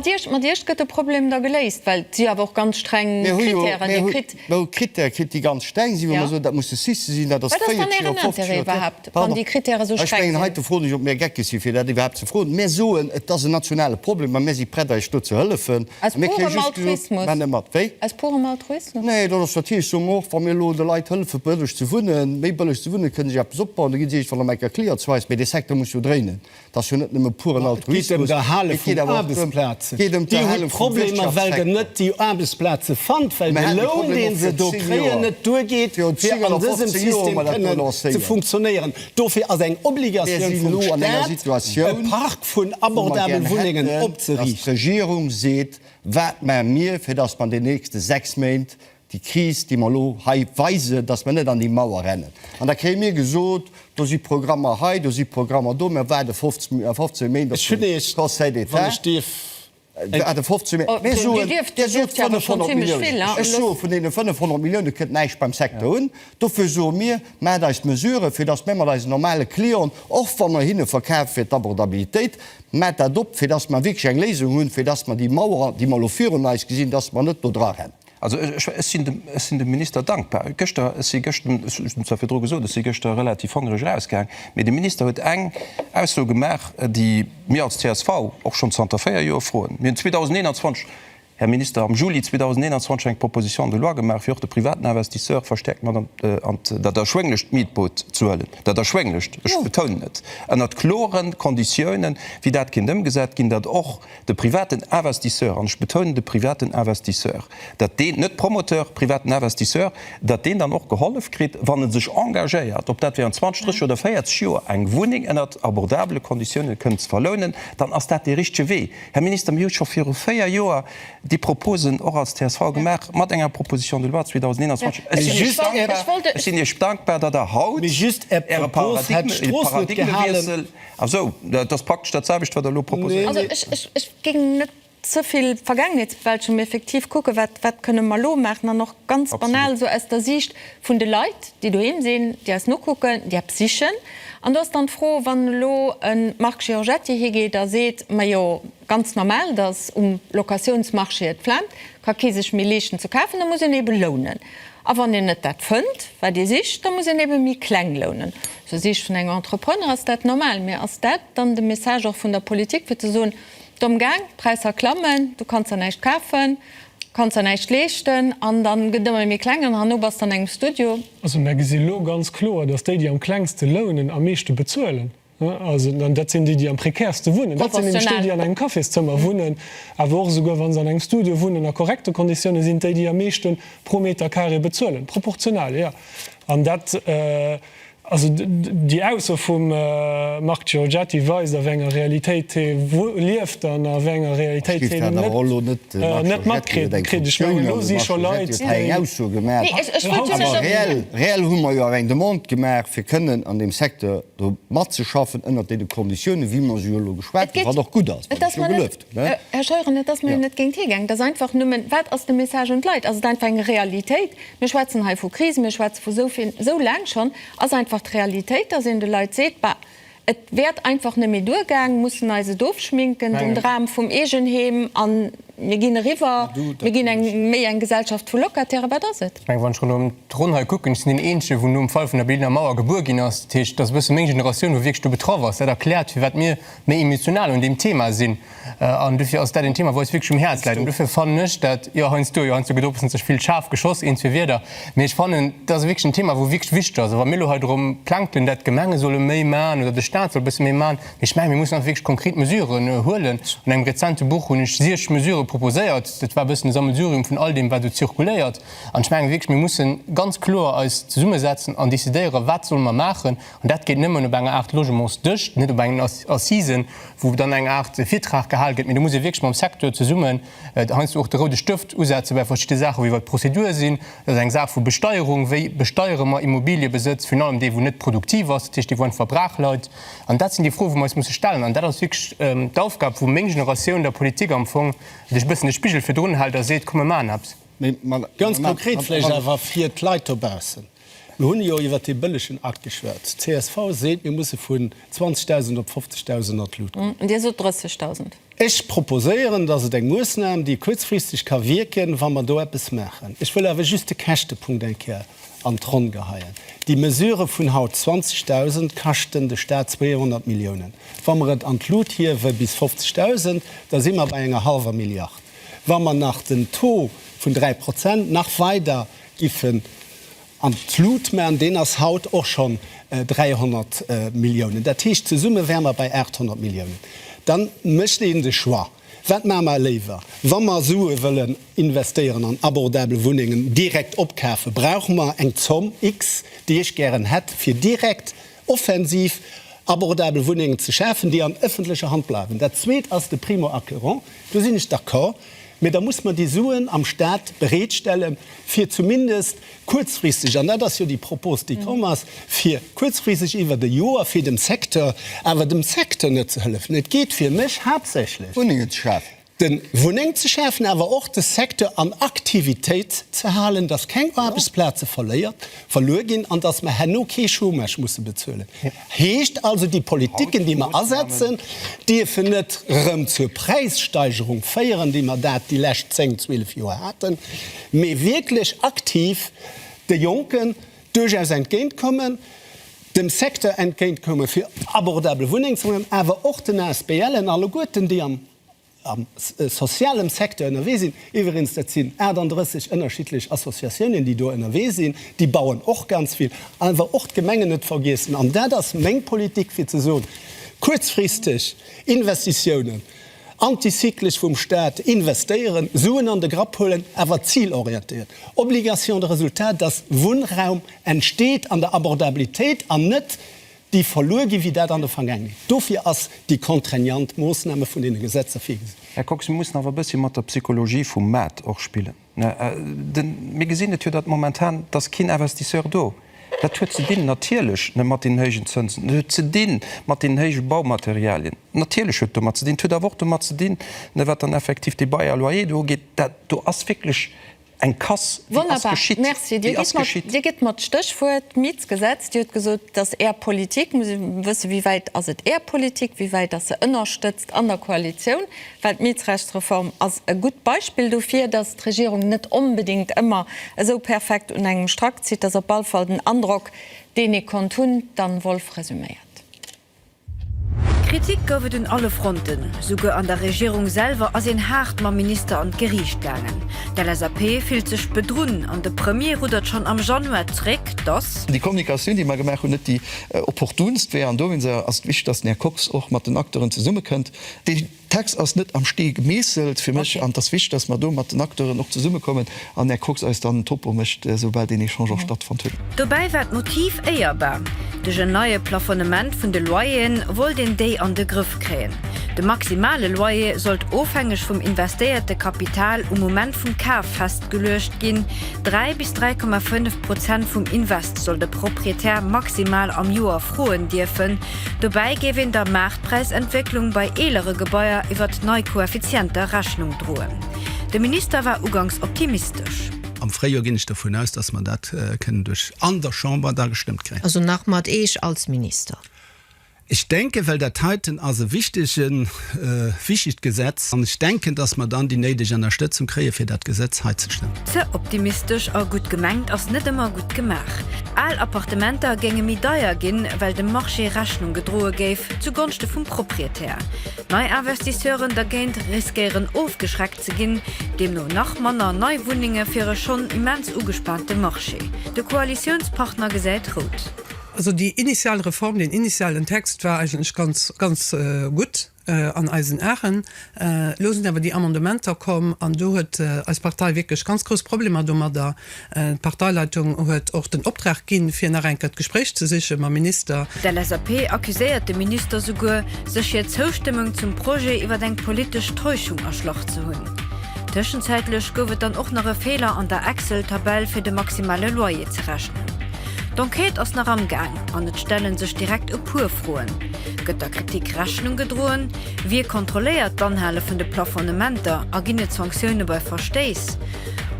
Iech gëtt de Problem da geléist, well si awer och ganz streng Krittären, déi kritt. No Critère kritt déi ganz streng sinn, wou mer soen, dat muss de Sice sinn, dat ass 40 Joer, 50 Joer. Wat ass dann Ären Interêt iwwerhaapt, wann déi Critèrë sou streng sinn? Heite froen ech, ob mir Gecke si fir dat iwwerhaapt ze froen. Mir soen, et ass en nationale Problem a mir si prett eis do ze hëllefen. Aus purem Altruismus? Maach net mat. Wéi? Aus purem Altruismus? Nee, dat ass natierlech esou. Mä och wa mir elo de Leit hëllefe bëlleg ze wunnen, méi bëlleg ze wunnen, kënne se sech eppes opbauen, da ginn se iergendwann am Ecker Cliertsweiss. Mä dee Secteur muss jo dréinen. Et ass jo net nëmme puren Altruismus. Et geet ëm d'Erhale vun Aarbechtsplazen. Dir hutt Problemer, well Der net déi Aarbechtsplaze fannt, well de Loun, dee se do kréien, net duergeet, fir an dësem System kënnen ze funktionéieren. Dofir ass eng Obligatioun vum Stat, e Park vun abordabel Wunnengen opzeriichten. Mir si elo an enger Situatioun, dass d'Regierung seet, Wat maache mir, fir dass mer an deenen nächste sechs Méint déi Kris, déi mer elo hei weisen, datt mer net an déi Mauer rennen. An da kréie mir gesot, do si Programmer hei, do si Programmer do, mir waarde 15 Méint op de Conseil d'État. Mir soen, Dir sot 500 Milliounen, ech soe vun deene 500 Millioune kënnt näischt beim Secteur un. Dofir soe mir, Maacht eis Mesurë, fir datt mir mat eisen normale Clienten, och wa mer hinne verkafe fir d'Abordabilitéit, maacht dat op, fir datt mer wierklech eng Léisung hunn, fir datt mer déi Mauer, déi mer elo virun eis gesinn, datt mer net do dra rennen. Also ech sinn dem Minister dankbar. Gëschter, ech si gëscht, ech hunn et zwar virdru gesot, ech si gëschter relativ hongereg erausgaang, mee de Minister huet eng Ausso gemaach, déi mir als csv och schonn zanter véier Joer froen. Mir hunn 2021, Här Minister, am Juli 2021 eng Proposition de loi gemaach, fir och de privaten Investisseur verstäerkt mat an dat erschwénglecht Mietboot ze huelen, dat erschwénglecht, ech betounen et, ënnert klore Konditiounen, wéi dat kinnt ëmgesat ginn, datt och De privaten Investisseur, an ech betounen de privaten Investisseur, datt deen, net Promoteur, privaten Investisseur, datt deen dann och gehollef kritt, wann e sech engagéiert, ob dat wärend 20, 30 oder 40 Joer eng Wunneng ënnert abordabele Konditiounen kënnt ze verlounen, dann ass dat dee richtege Wee. Här Minister, mir hu scho viru véier Joer déi Proposen och als csv gemaach mat enger Proposition de loi 2021. Ech sinn Iech dankbar, datt Der haut Äre Paradigmewiessel. Ach sou, dat ass praktesch dat selwecht, wat Der elo proposéiert. Also ech géing net ze vill Vergaangenheetsbewältechung, mee effektiv kucken, wat kënne mer elo maachen an och ganz banal esou aus der Siicht vun de Leit, déi doheem sinn, déi eis nokucken, déi eppes sichen. An do ass dann d'Fro, wann elo e Marc Giorgetti higeet a seet, majo ganz normal, datt um Locatiounsmarché et flaamt, Ka kee sech méi leeschten ze kafen, da muss en ebe lounen. A wann een net dat fënnt, wat ee sicht, da muss een ebe méi kleng lounen. Aus der Siicht vun engem Entrepreneur ass dat normal. Mee ass dat dann de Message och vun der Politik, fir ze soen, Domm gaang, d'Präisser klammen, du kanns der näischt kafen, kanns der näischt leeschten an dann gëtt et ëmmer méi kleng an herno bass de an engem Studio? Also mer gesi lo ganz kloer, dass déi, déi am klengste lounen, am meeschte bezuelen. An dat sinn déi, déi am prekärste wunnen. Dat sinn nämlech déi, déi an engem Cafészëmmer wunnen, awer och esouguer wa se an engem Studio wunnen, a korrekte Konditioune sinn et déi, déi am meeschte pro Meter carré bezuelen. Proportional, jo. An dat, also déi Ausso vum Marc Giorgetti weist, a wéi enger Realitéit hie lieft an a wéi enger Realitéit hien net matkritt. Ech mengen, elo si scho Leit, déi. do matzeschaffen ënnert deene Konditiounen, wéi mer se jo elo geschwat hunn, wat och gutt ass, wat ech jo gelueft hunn. Här Scheuren, et ass mer jo net géint Dir gaangen. Et ass einfach nëmmen, Wat ass de Message un d'Leit? Ass et einfach eng Realitéit? Mir schwätzen hei vu Kris, mir schwätze vu esou vill, esou laang schonn. Ass einfach d'Realitéit, dass een de Leit seet, Bah, et wäert einfach net méi duergaangen, mussen eis et ofschminken, den Dram vum Eegenheem an. Mir ginn eriwwer, mir ginn eng méi eng Gesellschaft vu Locataire. Wat ass et? Ech mengen, wann ech ronderëm d'Ronn hei kucken, ech sinn deen Eenzegen, wou nom Fall vun der Berliner Mauer gebuer ginn ass. Dat heescht, et ass e bësse meng Generatioun, wou wierklech do betraff ass. Dat erkläert, firwat mir méi emotional un deem Thema sinn. An dofir ass dat een Thema, wat eis wierklech um Häerz läit. An dofir fannen ech dat, jo, heiansdo, jo, heiansdo gëtt och e bëssen ze vill schaarf geschoss, een, zwee Wierder. Mee ech fannen, dat ass wierklech en Thema, wou wierklech wichteg ass. A wa mir elo hei drëm plänkelen, dat d'Gemenge solle méi man oder de Stat soll e bësse méi man, Ech mengen, mir mussen einfach wierklech konkret Mesuren huelen. An engem rezente Buch hunn ech siech Mesurë proposéiert. Dat war e bëssen e Sammelsurium vun all deem, wat do zirkuléiert. An ech mengen wierklech, mir mussen ganz kloer eis zesummesetzen an decidéieren, wat solle mer maachen. An dat geet nëmmen op enger Aart Logementsdësch, net op engen Assisen, wou dann eng Aart Virtrag gehal gëtt, mee do muss ee wierklech mam Secteur zesummen heiansdo och de roude Stëft usetze bei verschidde Saachen, wéi wat d'Prozedur sinn. Dat ass eng Saach vu Besteierung, wéi besteiere mer Immobiliëbesëtz, virun allem dee, wou net produktiv ass, dat heescht dee, wou einfach brach leit. An dat sinn déi Froe, wou mer eis musse stellen. An dat ass wierklech d'Aufgab, wou meng Generatioun der Politik am Fong sech e bëssen de Spigel virdrun hält a seet, komm mir maachen eppes. Ganz konkret vläicht awer fir d'Leit dobaussen, Mir hunn jo iwwer dee bëllegen Akt geschwat. Csv seet, mir musse vun 20.000 op 50.000 an d'Lut goen. Dir sot 30.000. Ech proposéieren, dass et eng Moossnam, déi kuerzfristeg ka wierken, wa mer do eppes maachen. Ech wëll awer just de Käschtepunkt eng Kéier an d'Ronn geheien. Déi Mesure vun haut 20.000 kaschten de Staat 200 Milliounen. Wa mer et an d'Lut hiewe bis 50.000, da si mer bei enger hallwer Milliard. Wa mer nach den Taux vun 3 Prozent nach weider giffen an d'Lut man, deen ass haut och schonn 300 Milliounen, dat heescht zesumme wäre mer bei 800 Milliounen, da mécht een de Choix. Wat maache mer léiwer? Wa mer Sue wëllen investéieren an abordabel Wunnengen, direkt opkafen, brauche mer eng Zomm X, déi ech gären hätt, fir direkt offensiv abordabel Wunnengen ze schafen, déi an ëffentlecher Hand bleiwen. Dat Zweet ass de Primo-acquérant. Do sinn ech d'accord. Mee da muss mer déi Suen am Stat bereetstellen, fir zumindest kuerzfristeg, an dat ass jo déi Propos, déi komm ass, fir kuerzfristeg iwwert e Joer, fir dem Secteur, awer dem Secteur net ze hëllefen. Et geet fir mech haaptsächlech. Wunnengen ze schafen. Wunnengen ze schafen, awer och de Secteur an Aktivitéit ze halen, dass keng Aarbechtsplaze verluer ginn an dass mer herno kee Chômage musse bezuelen. Heescht also, déi Politiken, déi mer asetzen, dierfen net erëm zur Präissteigerung féieren, wéi mer dat déi lescht zéng, zwielef Joer haten, mee wierklech aktiv de Jonken duerchaus entgéintkommen, dem Secteur entgéintkommen, fir abordabel Wunnengen ze maachen, awer och den ASBLen alleguerten, déi am am sozialem Secteur ënnerwee sinn, iwwereens dat sinn 38 ënnerschiddlech Associatiounen, déi do ënnerwee sinn, déi bauen och ganz vill, awer och d'Gemengen net vergiessen. An dat ass meng Politik, fir ze soen, kuerzfristeg Investitiounen, antizyklesch vum Stat investéieren, Suen an de Grapp huelen, awer zilorientéiert, Obligation de résultat, dass Wunnraum entsteet an der Abordabilitéit an net déi verluer ginn, wéi dat an der Vergaangenheet. Dofir ass déi contraignant Moossname vun deene Gesetzer virgesinn. Här Kox, mir mussen awer e bëssi mat der Psychologie vum Maart och spillen. Mir gesinn et jo, datt momentan, et ass keen Investisseur do. Dat huet ze dinn, natierlech, mat deenen héijen Zënsen, et huet ze di mat deenen héije Baumaterialien, natierlech huet et domat ze dinn. Et huet awer och domat ze dinn, wat dann effektiv déi Bail à loyer do ugeet, dat do ass wierklech Eng Kass, déi ass geschitt. Merci. Dir gitt mer d'Stéchwuert Mietsgesetz. Dir hutt gesot, dass Är Politik, muss ech wëssen, wéi wäit ass et Är Politik, wéi wäit ass se ënnerstëtzt an der Koalitioun? Well d'Mietsrechtsreform ass e gutt Beispill dofir, dass d'Regierung net onbedéngt ëmmer esou perfekt un engem Strack zitt. Dat ass op all Fall den Androck, deen ee konnt hunn. D'Anne Wolff resuméiert. Kritik gouf et un alle Fronten. Souguer an der Regierung selwer ass een haart mam Minister an d'Geriicht gaangen. D'LSAP fillt sech bedrunn an de Premier ruddert schonn am Januar zréck, dass. Déi Kommunikatioun, déi mer gemaach hunn, net déi opportunst wär. An dowéinst ass et wichteg, dass den Här Kox och mat den Acteuren zesummekënnt. Déi D'Hex ass net am Stee gemeesselt fir mech an et ass wichteg, dass mer do mat den Acteuren och zesummekommen an Här Kox eis dann en Topo mécht, esoubal deen Echange och stattfonnt huet. Dobäi war d'Motiv éierbar. Duerch en neie Plafonnement vun de Loyeren wollt een déi an de Grëff kréien. De maximale Loyer sollt ofhängeg vum investéierte Kapital um Moment vum Kaf festgeluecht ginn, dräi bis 3,5 Prozent vum Invest soll de Proprietär maximal am Joer froen dierfen, Dobäi géif een der Maartpräisentwécklung bei eelere Gebaier iwwert nei Koeffizienter Rechnung droen. De Minister war ugangs optimistesch. Am Fréijoer ginn ech dovun aus, dass mer dat kënnen duerch an der Chamber da gestëmmt kréien. Also nach mat Eech als Minister? Ech denken, well dat heiten ass e wichtegen. Prinzip e wichtigt Gesetz an ech denken, dass mer dann déi néideg Ennerstëtzung kréien, fir dat Gesetz hei ze stëmmen. Ze optimistesch a gutt gemengt ass net ëmmer gutt gemaach. Al Appartementer géinge méi deier ginn, well dem Marché Rechnung gedroe géif zu Gonschte vum Proprietär. Nei Investisseuren dergéint riskéieren ofgeschreckt ze ginn, deemno nach manner nei Wunnenge fir e schonn immens ugespaante Marché. De Koalitiounspartner gesäit rout. Also déi initial Reform, deen initialen Text war eigentlech ganz, ganz gutt an eisen Aen. Elo sinn awer déi Amendementer komm an do huet eis Partei wierklech ganz grouss Problemer domadder. D'Parteileitung huet och den Optrag ginn, fir nach enker d'Gespréich ze siche mam Minister. D'LSAP accuséiert de Minister souguer, sech hir Zoustëmmung zum Projet iwwer eng politesch Täuschung erschlach ze hunn. Tëschenzäitlech gouf et dann och nach e Feeler an der Excel-Tabell, fir de maximale Loyer ze rechnen. D'Enquête ass nach am Gaang an et stelle sech direkt e puer Froen, Gëtt der Kritik Rechnung gedroen? Wie kontrolléiert d'Anhale vun de Plafonnementer a ginn et Sanktioune bei Verstéiss?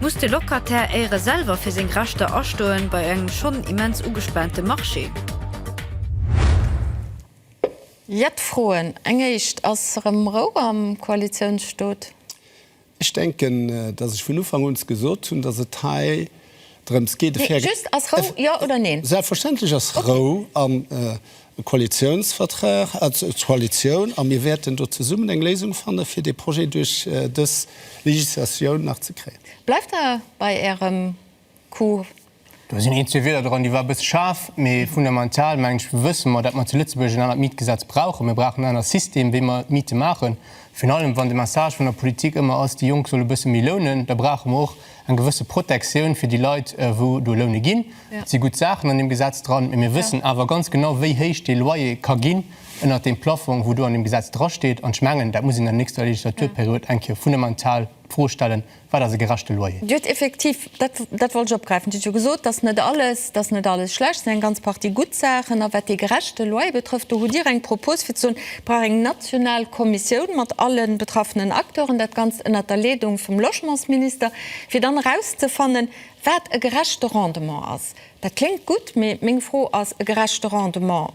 Muss de Locataire éiere selwer fir seng Rechter astoen bei engem schonn immens ugespaante Marché? Jett Froen, eng éischt, Ass erëm Rou am Koalitiounsstoot? Ech denken, dass ech vun Ufank un gesot hunn, dass et hei drëms geet, e fair. Just, ass Rou, jo oder neen? Selbstverständlech ass Rou am Koalitionsvertrag, d'Koalitioun, a mir wäerten do zesummen eng Léisung fanne fir dee Projet duerch dës Législatioun nach ze kréien. Bleift Der bei Ärem Cours. Do sinn een, zwee Wierder dran, déi war e bësse schaarf, mee fundamental, mengen ech, wësse mer, datt mer zu Lëtzebuerg en anert Mietgesetz brauchen. Mir brauchen en anere System, wéi mer d'Miete maachen. Virun allem, wann de Message vun der Politik ëmmer ass, déi Jonk solle bësse méi lounen, da brauche mer och eng gewësse Protektioun fir déi Leit, wou do loune ginn. Et si gutt Saachen an deem Gesetz dran, mee mir wëssen awer ganz genau, wéi héich dee Loyer ka ginn ënnert deem Plaffong, wou do an deem Gesetz drasteet. An ech mengen, dat muss een an der nächster Legislaturperiod eng Kéier fundamental d'Fro stellen, Wat ass e gerechte Loyer? Dir huet effektiv, dat, dat wollt ech opgräifen, Dir hutt jo gesot, dass net alles, dass net alles schlecht, et sinn eng ganz Partie gutt Saachen. A wat dee gerechte Loyer betrëfft, do hutt Dir eng Propos, fir ze soen, et brauch eng national Kommissioun mat alle betraffenen Acteuren, dat Ganzt ënnert der Leedung vum Logementsminister, fir dann erauszefannen, wat e gerechte Rendement ass. Dat kléngt gutt, mee meng Fro ass, E gerechte Rendement?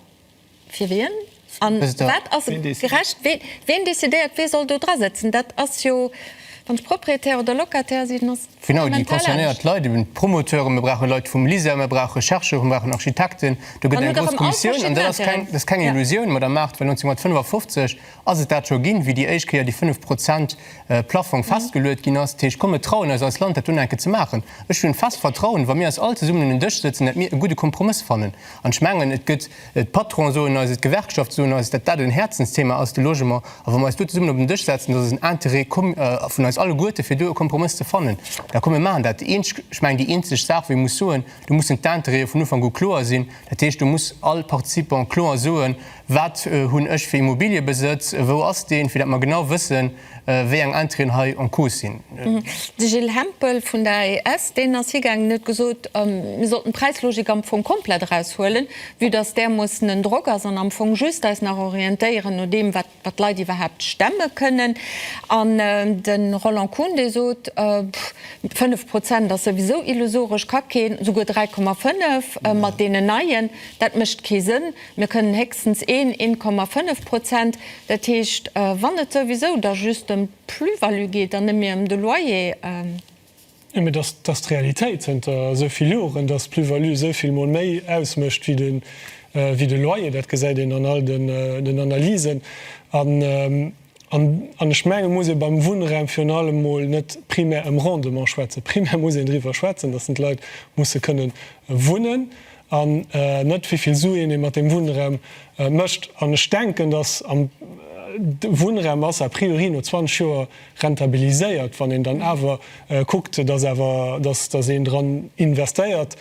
Fir wien? An wat ass gerecht? Ween decidéiert, wee soll do dra sëtzen? Dat ass jo, wann ech Propriétaire oder Locataire sinn, ass dat fundamental anescht. Genau, déi concernéiert Leit, eben d'Promoteuren, mir brauche Leit vum LISER, mir brauche Chercheuren, mir brauchen Architekten. Do gëtt eng grouss Kommissioun an dat ass keng Illusioun, Madamm Mart, well 1955 Ass et dat scho ginn, wéi déi éischt Kéier dee 5 Prozent Plaffong festgeluet ginn ass? Dat heescht, komm, mir trauen eis als Land, dat dunn eng Kéier ze maachen. Ech hunn fest Vertrauen, wa mir eis all zesummen un en Dësch sëtzen, datt mir e gudde Kompromëss fannen. An ech mengen, et gëtt, d'Patronen soen eis et, d'Gewerkschafte soen eis et, datt dat en Häerzensthema ass, de Logement. A wa mir eis do zesummen op en Dësch setzen, dat ass en Interêt com vun eis alleguerte fir do e Kompromëss ze fannen. Da komm, mir maachen dat. Déi eenzeg, ech mengen, déi eenzeg Saach, wou ee muss soen, do mussen d'Interéeë vun Ufank u kloer sinn. Dat heescht, do muss all Participant kloer soen, Wat hunn ech fir Immobiliëbesëtz? Wou ass deen? Fir dat mer genau wëssen, wéi eng Intérêten hei en cause sinn. De Gilles Hempel vun der AES, deen ass higaangen, huet gesot, mir sollten d'Präislogik am Fong komplett eraus huelen, vue dass där mussen en Drock ass, an am Fong just eis nach orientéieren no deem, wat d'Leit iwwerhaapt stemme kënnen. An de Roland Kuhn, dee sot, 5 Prozent ass souwisou illusoresch, ka keen, souguer 3,5 mat deenen Neien, dat mécht kee Sënn. Mir kënnen héchstens een 1,5 Prozent, dat heescht, wann et souwisou da just ëm d'Plus-value geet an net méi ëm de Loyer. Mee dat ass d'Realitéit zënter esou vill Joren, dass d'Plus-value esou vill Mol méi ausmécht wéi de Loyer. Dat gesäit een an all den Analysen. An ech menge muss ee beim Wunnraum virun allem emol net primär ëm Rendement schwätzen. Primär muss een driwwer schwätzen, datt den Leit musse kënnen wunnen an net wéi vill Suen ee mat deem Wunnraum mécht. An ech denken, datt de Wunnraum ass a priori no 20 Joer rentabiliséiert, wann een dann awer kuckt, datt awer, datt een dran investéiert.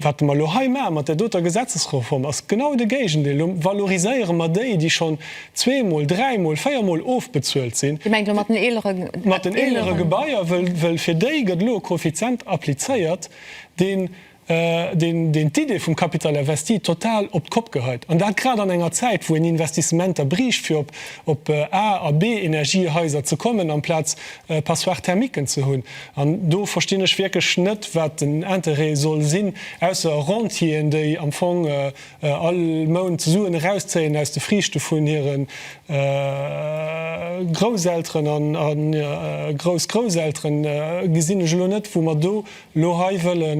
Wat mer elo hei maache mat där doter Gesetzesreform, ass genau de Géigendeel. Elo valoriséiere mer déi, déi schonn zweemol, dräimol, véiermol ofbezuelt sinn. Dir mengt elo mat den eeleren Gebaier? Mat den eelere Gebaier, wëll fir déi gëtt elo e Koeffizient applizéiert, deen d'Idee vum Capital investi total op d'Kopp geheit. An dat grad an enger Zäit, wou een Investissementer briicht, fir op A a B-Energiehaiser ze kommen, amplaz Passoires thermiques ze hunn. An do verstinn ech wierklech net, wat den Interêt soll sinn, ausser Rentieren, déi am Fong all Mount Suen erauszéien aus de Friichte vun hire Grousselteren a Groussgrousselteren, gesinn ech elo net, wou mer do elo hei wëlle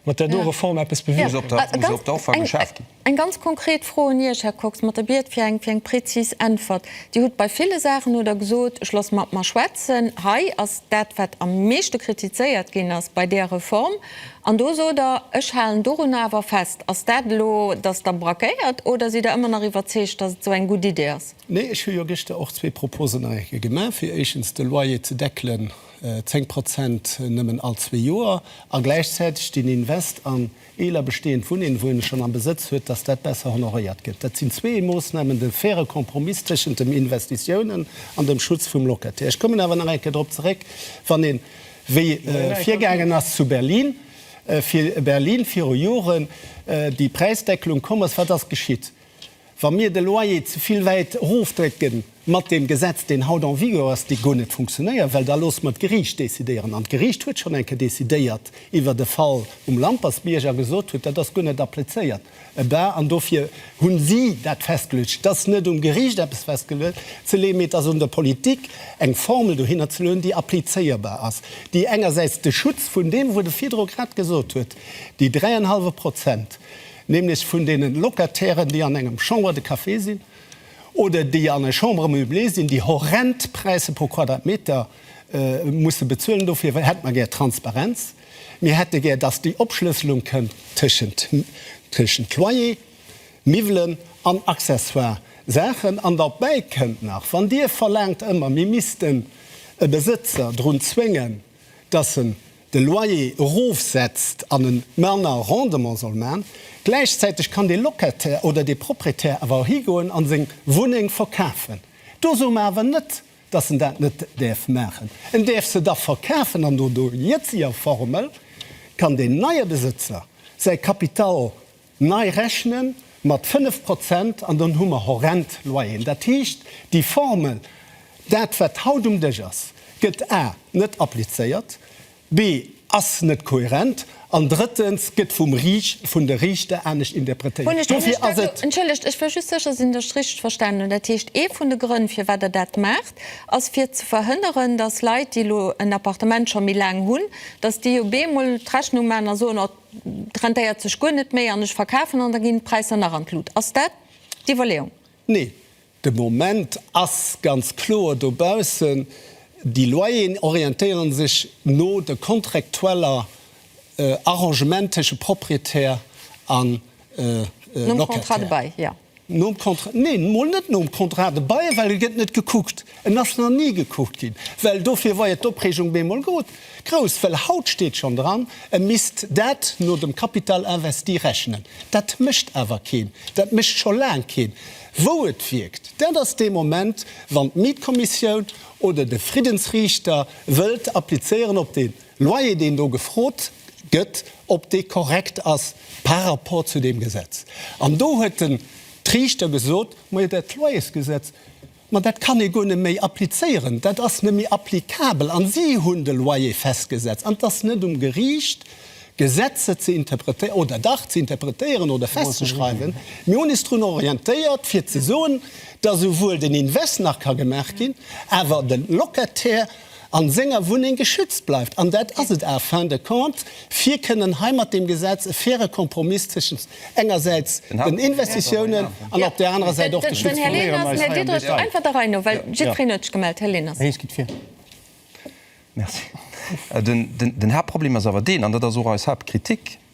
mat där do Reform eppes bewierken. Eng ganz konkret Fro un Iech, Här Kox, mat der Biet fir eng fir eng prezis Äntwert. Dir hutt bei ville Saachen, hutt Der gesot, ech loosse mat mer schwätzen. Hei ass dat, wat am meeschte kritizéiert ginn ass bei där Reform, an do sot Der, ech halen dorunner awer fest. Ass dat elo, datt Der brakéiert, oder sidd Der ëmmer nach iwwerzeegt, datt et esou eng gutt Idee ass? Nee, ech hu jo gëschter och zwee Proposen nach eng Kéier gemaach, fir éischtens de Loyer ze deckelen, 10 Prozent nëmmen all zwee Joer, a gläichzäiteg den Invest an Eeler bestehend Wunneen, wou een schonn am Besëtz huet, dass dat besser honoréiert gëtt. Dat sinn zwee Moosnamen, de faire Kompromiss tëschent dem Investitiounen an dem Schutz vum Locataire. Ech kommen awer nach eng Kéier drop zeréck, wann een, wéi virgaangen ass zu Berlin, fir Berlin viru Joren déi Präisdeckelung komm ass, wat ass geschitt? Wa mir de Loyer ze vill wäit erofdrécken mat deem Gesetz, deen haut en vigueur ass, dee guer net funktionéiert, well da loosse mer d'Geriicht decidéieren. An d'Geriicht huet schonn eng Kéier decidéiert iwwert e Fall um Lampersbierg a gesot huet, dat ass guer net applizéiert bar. An dofir hu si dat festgeluecht. Et ass net um Geriicht eppes festgeluecht ze leeën, mee et ass un der Politik eng Formel dohinner ze luewen, déi applizéierbar ass, déi engersäits de Schutz vun deem, wou de virdru grad gesot huet, déi dräienhallwe Prozent, nämlech vun deenen Locatairen, déi an engem Chambre de café sinn oder déi an eng Chambre meublée sinn, déi horrend Präisser pro Quadratmeter musse bezuelen. Dofir hätte mer gär Transparenz. Mir hätte gär, dass déi Opschlësselung kënnt tëschent Loyer, Miwwelen an accessoire Saachen. An derbäi kënnt nach, wann Dir verlaangt ëmmer, mir missten e Besëtzer drun zwéngen, dass en de Loyer erofsetzt an e manner Rendement soll man, gläichzäiteg kann dee Locataire oder dee Proprietär awer och higoen a seng Wunneng verkafen. Do soe mer awer net, dass en dat net däerf maachen. En däerf se da verkafen an no der jetziger Formel kann deen neie Besëtzer säi Kapital Nei rechne mat 5 Prozent an dann hu mer horrend Loyeren. Dat heescht, déi Formel, dat wat haut um Dësch ass, gëtt a net applizéiert, b ass net kohärent an drëttens gëtt vum Riicht, vun de Riichter anescht interpretéiert. Dofir ass et. Entschëllegt, ech wëll just sécher sinn, datt ech richteg verstanen hunn. Dat heescht, ee vun de Grënn firwat Der dat maacht, ass fir ze verhënneren, datt Leit, déi elo en Appartement scho méi laang hunn, datt déi op eemol d'Rechnung maachen a soen, oh, 't rentéiert sech guer net méi an ech verkafen an da ginn d'Präisser nach an d'Lut. Ass dat d'Iwwerleeung? Nee, de Moment ass ganz kloer dobaussen, déi Loyeren orientéiere sech no de contractueller Arrangementen tësche Proprietär a Nom Contrat de bail, jo. Nom Contrat, neen, mol net nom Contrat de bail, well e gëtt net gekuckt. En ass nach ni gekuckt ginn. Well dofir war jo d'Opreegung bemol grouss, well haut steet schonn dran, e misst dat no dem Capital investi rechnen. Dat mécht awer keen, dat mécht scho laang keen. Wou et wierkt, dat ass dee Moment, wann d'Mietkommissioun oder de Friddensriichter wëllt applizéieren op deen. Loyer, deen do gefrot gëtt, ob dee korrekt ass par rapport zu deem Gesetz. An do huet den d'Riichter gesot, Majo, dat Loyersgesetz, ma dat kann ee guer net méi applizéieren, dat ass net méi applikabel. A si hunn de Loyer festgesetzt. An et ass net um Geriicht, Gesetzer ze interpretéieren, oder dach, ze interpretéieren oder festzeschreiwen. Mir hunn eis drun orientéiert, fir ze soen, dass esouwuel den Invest nach ka gemaach ginn, awer de Locataire an senger Wunneng geschützt bleift. An dat ass et en fin de compte, fir kënnen hei mat deem Gesetz e faire Kompromiss tëschent engersäits den Investitiounen an op där anerer Säit och de Schutz vum Klima.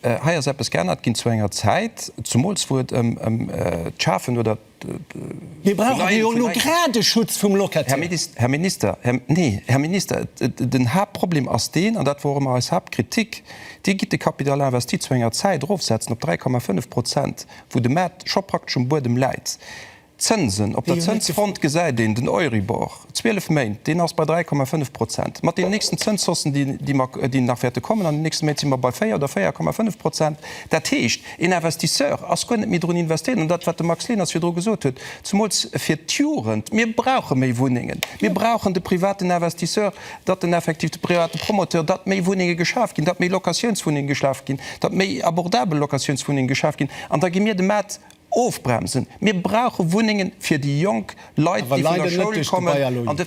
Hei ass eppes geännert ginn zu enger Zäit, zumools wou et ëm d'Schafen oder d'Verleien vun neien Schutzzonen vum Locataire geet. Här Minister, nee, Här Minister, den Haaptproblem ass deen, an dat wor och ëmmer eis Haaptkritik, Dir gitt de Capital investi zu enger Zäit erofsetzen op 3,5 Prozent, wou de Maart scho praktesch um Buedem läit. D'Zënsen, Op der Zënsfront gesäit een den Euribor, 12 Méint, deen ass bei 3,5 Prozent. Mat deenen nächsten Zënshaussen, déi nach wäerte kommen an den nächste Méint, si mer bei 4 oder 4,5 Prozent. Dat heescht, een Investisseur ass guer net méi drun investéiert. An dat, wat de Max Leners virdru gesot huet, zemools fir d'Jugend, Mir brauche méi Wunnengen. Mir brauchen de privaten Investisseur, datt en effektiv, de private Promoteur, datt méi Wunnenge geschaf ginn, datt méi Locatiounswunnenge geschaf ginn, datt méi abordabel Locatiounswunnenge geschaf ginn. An da gi mir de Maart Ofbremsen. Mir brauche Wunnengen fir déi jonk Leit, déi vun der Schoul kommen. An de.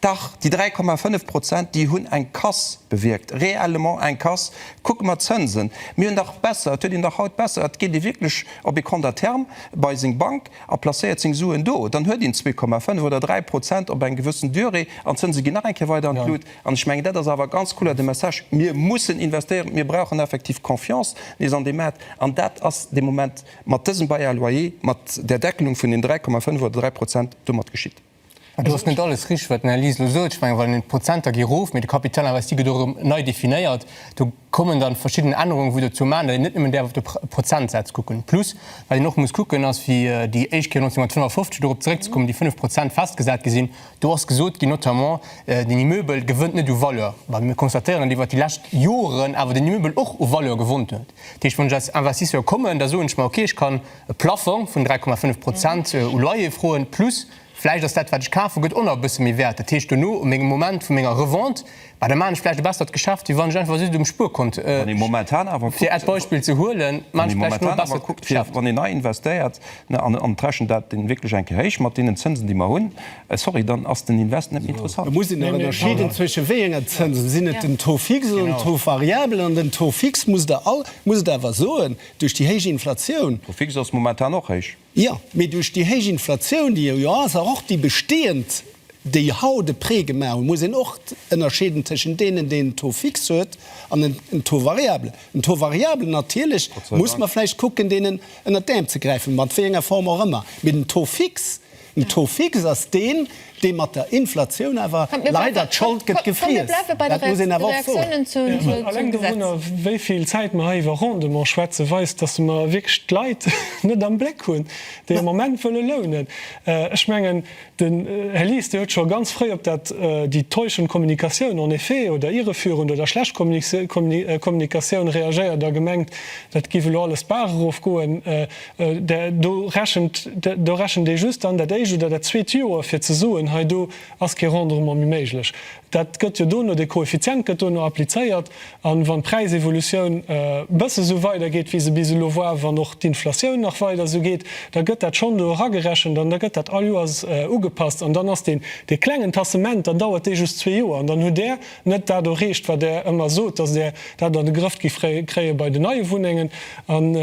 Dach, déi 3,5 Prozent, déi hunn eng Casse bewierkt, réellement eng Casse. Kucke mer d'Zënsen. Mir hunn dach besser, et huet een dach haut besser, et geet ee wierklech op ee Compte à terme bei seng Bank a placéiert seng Suen do. Dann huet een 2,5 oder 3 Prozent op eng gewëssen Durée an d'Zënse ginn nach eng Kéier weider an d'Lut. An ech mengen, dat ass awer ganz kloer de Message, Mir mussen investéieren. Mir brauchen effektiv Confiance nees an dee Maart. An dat ass de Moment. Mat dësem Bail à loyer, mat där Deckelung vun den 3,5 oder 3 Prozent, domat geschitt. Mä do ass net alles richteg, wat den Här Lies elo sot. Ech mengen, wann een d'Prozenter gi rof, mä de Capital investi gëtt och erëm nei definéiert, do kommen dann verschidden Ännerungen, wou dozou man, datt een net nëmmen däerf op de Prozentsätz kucken. Plus, wat een och muss kucken, ass, wéi déi éischt Kéier 1955, dorop zeréckzekommen, déi 5 Prozent festgesat gi sinn, do ass gesot ginn, notamment, den Immeuble gewënnt net u Valeur. Mä mir constatéieren, datt iwwert déi lescht Joren awer den Immeuble och u Valeur gewonnt huet. Déi ech vun den Investisseure kommen, da soen ech mer, okay, ech kann e Plaffong vun 3,5 Prozent u Loyer froen, plus vläicht ass dat, wat ech kafen, gëtt och nach e bësse méi wäert. Dat heescht, dono u mengem Moment vu menger Revente, bah, da maachen ech vläicht e bessert Geschäft, wéi wann ech einfach just um Spuerkont, fir als Beispill ze huelen, maachen ech vläicht elo e bessert Geschäft. Wann een nei investéiert, an ech rechnen dat wierklech eng Kéier héich mat deenen Zënsen, déi mer hunn, Sorry, dann ass den Invest net méi interessant. Et muss een nach ënnerscheeden zwëschen wéi enger Zënsen. Sinn et den Taux fixe oder den Taux variable? An den Taux fixe musst Der all, muss et awer soen, duerch déi héich Inflatioun. Taux fixe ass momentan och héich. Jo, mee duerch déi héich Inflatioun, déi jo ass, a och déi bestehend, déi haut e Prêt gemaach hunn, muss een och ënnerscheeden tëschent deenen, deen en Taux fixe huet an en Taux variable. Den Taux variable, natierlech muss mer vläicht kucken, deen ënnert d'Äerm ze gräifen, mat wéi enger Form och ëmmer. Mee den Taux fixe, Den Taux fixe ass deen, dee mat der Inflatioun awer leider d'Schold gëtt gefriess. Dat muss een awer och soen. Alleng dowunner, wéi vill Zäit mer hei iwwer Rendement schwätzen, weist, dass mer wierklech d'Leit net am Bléck hunn, déi am Moment wëlle lounen. Ech mengen, den Här Lies, Dir hutt scho ganz fréi op dat déi täuschend Kommunikatioun, en effet, oder irreführend oder schlecht Kommunikatioun reagéiert a gemengt, dat géif elo alles d'Baach erof goen. Do rechent, do rechent ee just dann dat éischt oder dat zweet Joer, fir ze soen, hei do ass kee Rendement méi méiglech. Dat gëtt jo dono, dee Koeffizient gëtt dono applizéiert. A wann d'Präisevolutioun e bësse sou weidergeet, wéi se bis elo war, wann och d'Inflatioun nach weider esou geet, da gëtt dat schonn do eragerechent an da gëtt dat all Joers ugepasst. An dann ass dee klengen Tassement, dann dauert dee just zwee Joer an dann hutt Där net dat erreecht, wat Der ëmmer sot, dass Der dat an de Grëff giff kréie bei den neie Wunnengen. An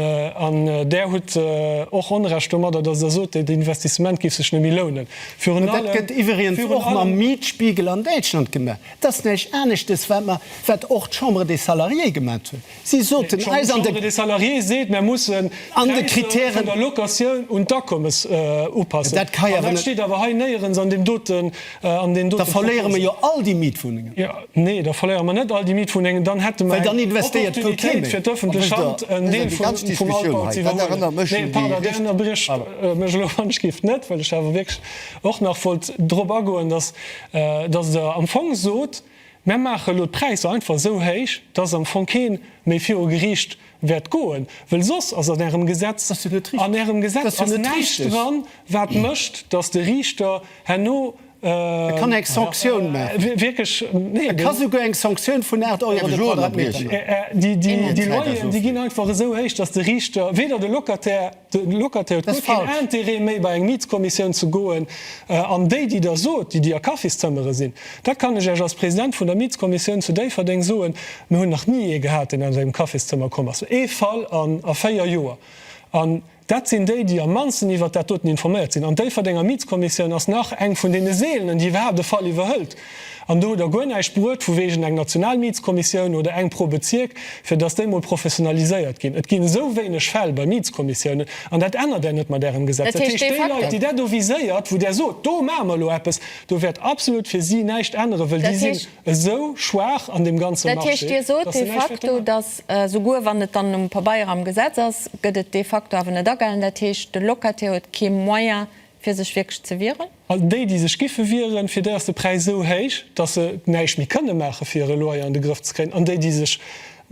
Der hutt och Onrecht domadder, dass Der sot, dat Investissement giff sech net méi lounen. Virun allem. Dat gëtt iwweriens och mam Mietspiegel an Däitschland gemaach. Dat ass näischt aneschtes, wat mer, wat och d'Chambre des Salariés gemaat huet. Si soten eis an de. D'Chambre des salariés seet, mär mussen d'Präisser vun der Locatioun un d'Akommes upassen. An dat steet awer hei néierens an deem doten, an deenen dote Proposen. Da verléiere mer jo all déi Mietwunnengen. Nee, da verléiere mer net all déi Mietwunnengen. Dann hätte mer eng Opportunitéit fir d'öffentlech Hand en Deel vum Altbau ze iwwerhuelen. Nee, pardon, Dir ënnerbriecht mech elo wann ech géif net, well ech awer wierklech och nach wollt drop agoen, dass Der am Fong sot, Mär maache elo d'Präisser einfach esou héich, dass am Fong kee méi viru Geriicht wäert goen, well soss ass an Ärem Gesetz, an Ärem Gesetz ass näischt dran, wat mécht, dass de Riichter herno wierklech, nee, déi Loyeren, déi ginn einfach esou héich, dass de Riichter weder de Locataire, De Luc Athé huet guer keen Interêt méi bei eng Mietskommissioun ze goen. An déi, déi Der sot, déi, déi a Kaffiszëmmere sinn, dat kann ech Iech als President vun der Mietskommissioun zu Déifferdeng soen, Mir hunn nach ni ee gehat, deen aus engem Kaffiszëmmer komm ass, ee Fall a véier Joer. An dat sinn déi, déi am mannsten iwwert dat doten informéiert sinn. An d'Déifferdenger Mietskommissioun ass nach eng vun deene seelenen, déi iwwerhaapt e Fall iwwerhëlt. An do hutt Der guer näischt bruet vu wegen eng Nationalmietskommissioun oder eng pro Bezierk, fir dass déi mol professionaliséiert ginn. Et ginn esou wéineg Fäll bei Mietskommissiounen, an dat ännert Der net mat Ärem Gesetz. Dat heescht, déi Leit, déi dat do viséiert, wou Der sot, do maache mer elo eppes, do wäert absolut fir si näischt änneren, well déi sinn esou schwaach an deem ganze Marché, dass se näischt wäerten änneren. Dat heescht, Dir sot de facto, dass, souguer wann et dann um Pabeier am Gesetz ass, gëtt et de facto awer net agehalen. Dat heescht, de Locataire huet kee Moyen, Fir sech wierklech ze wieren? An déi, déi sech giffe wieren, fir déi ass de Präis esou héich, dass se näischt méi kënne maache fir hire Loyer an de Grëff ze kréien. An déi, déi sech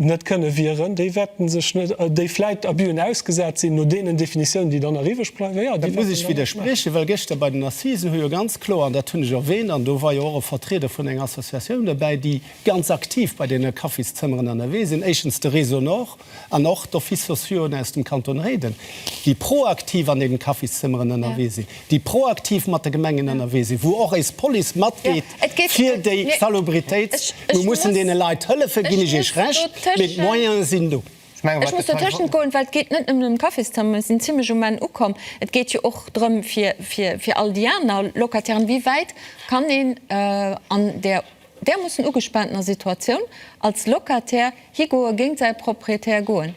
net kënne wieren, déi wäerte sech net, déi vläit Abus'en ausgesat sinn, no deenen Definitiounen, déi dann nach iwweg bleiwen, jo, déi wäerten dann nach. Dat muss ech widderspriechen, well gëschter bei den Assisen hu jo ganz kloer, an dat hunn ech erwähnt, an do war jo och e Vertrieder vun enger Associatioun dobäi, déi ganz aktiv bei deene Kaffistëmmeren ennerwee sinn, éischtens de Réseau Nord, An och d'Offices sociauxen aus dem Kanton Réiden, déi proaktiv an deenen Kaffis-zëmmeren ënnerwee sinn, déi proaktiv mat de Gemengen ënnerwee sinn, wou och eis Police matgeet fir déi Salubritéit. Mir mussen deene Leit hëllefen, ginn ech Iech Recht, mee d'Moyene sinn do. Ech muss dotëschent goen, well et geet net nëmmen ëm d'Kaffis-zëmmer, mir sinn zimlech um Enn ukomm. Et geet jo och drëm, fir all déi aner Locataireen, wéi wäit kann een an där Där muss en ugespaantener Situatioun als Locataire higoe géint säi Proprietär goen.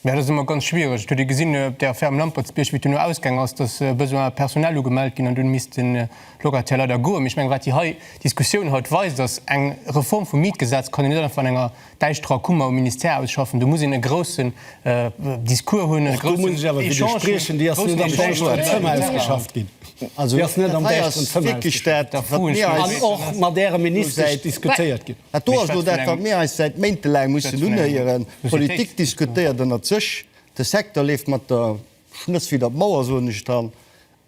Mä dat ass ëmmer ganz schwiereg. Ech hutt ee gesinn op där Ferme Lampertsbierg, wéi et duerno ausgaang ass, datt Besoin personnel ugemellt ginn an dunn misst de Locataire leider goen. Mee ech mengen, wat déi hei Diskussioun haut weist, ass, Eng Reform vum Mietgesetz kann een net einfach an enger Däischt dra kumme mam Ministère ausschaffen. Do muss een e groussen Discours hunn, e groussen Echange hunn, e groussen Echange hunn. Déi ass net am däischteren Zëmmer ausgeschafft ginn. Also déi ass net am däischteren Zëmmer ausgeschafft ginn an och mat Äre Ministesch diskutéiert ginn. Dat do ass elo dat, wat mir eis säit Méinte laang mussen unhéieren. D'Politik diskutéiert ënnert sech, de Secteur leeft mat der Schnëss widder d'Mauer, soen ech dann.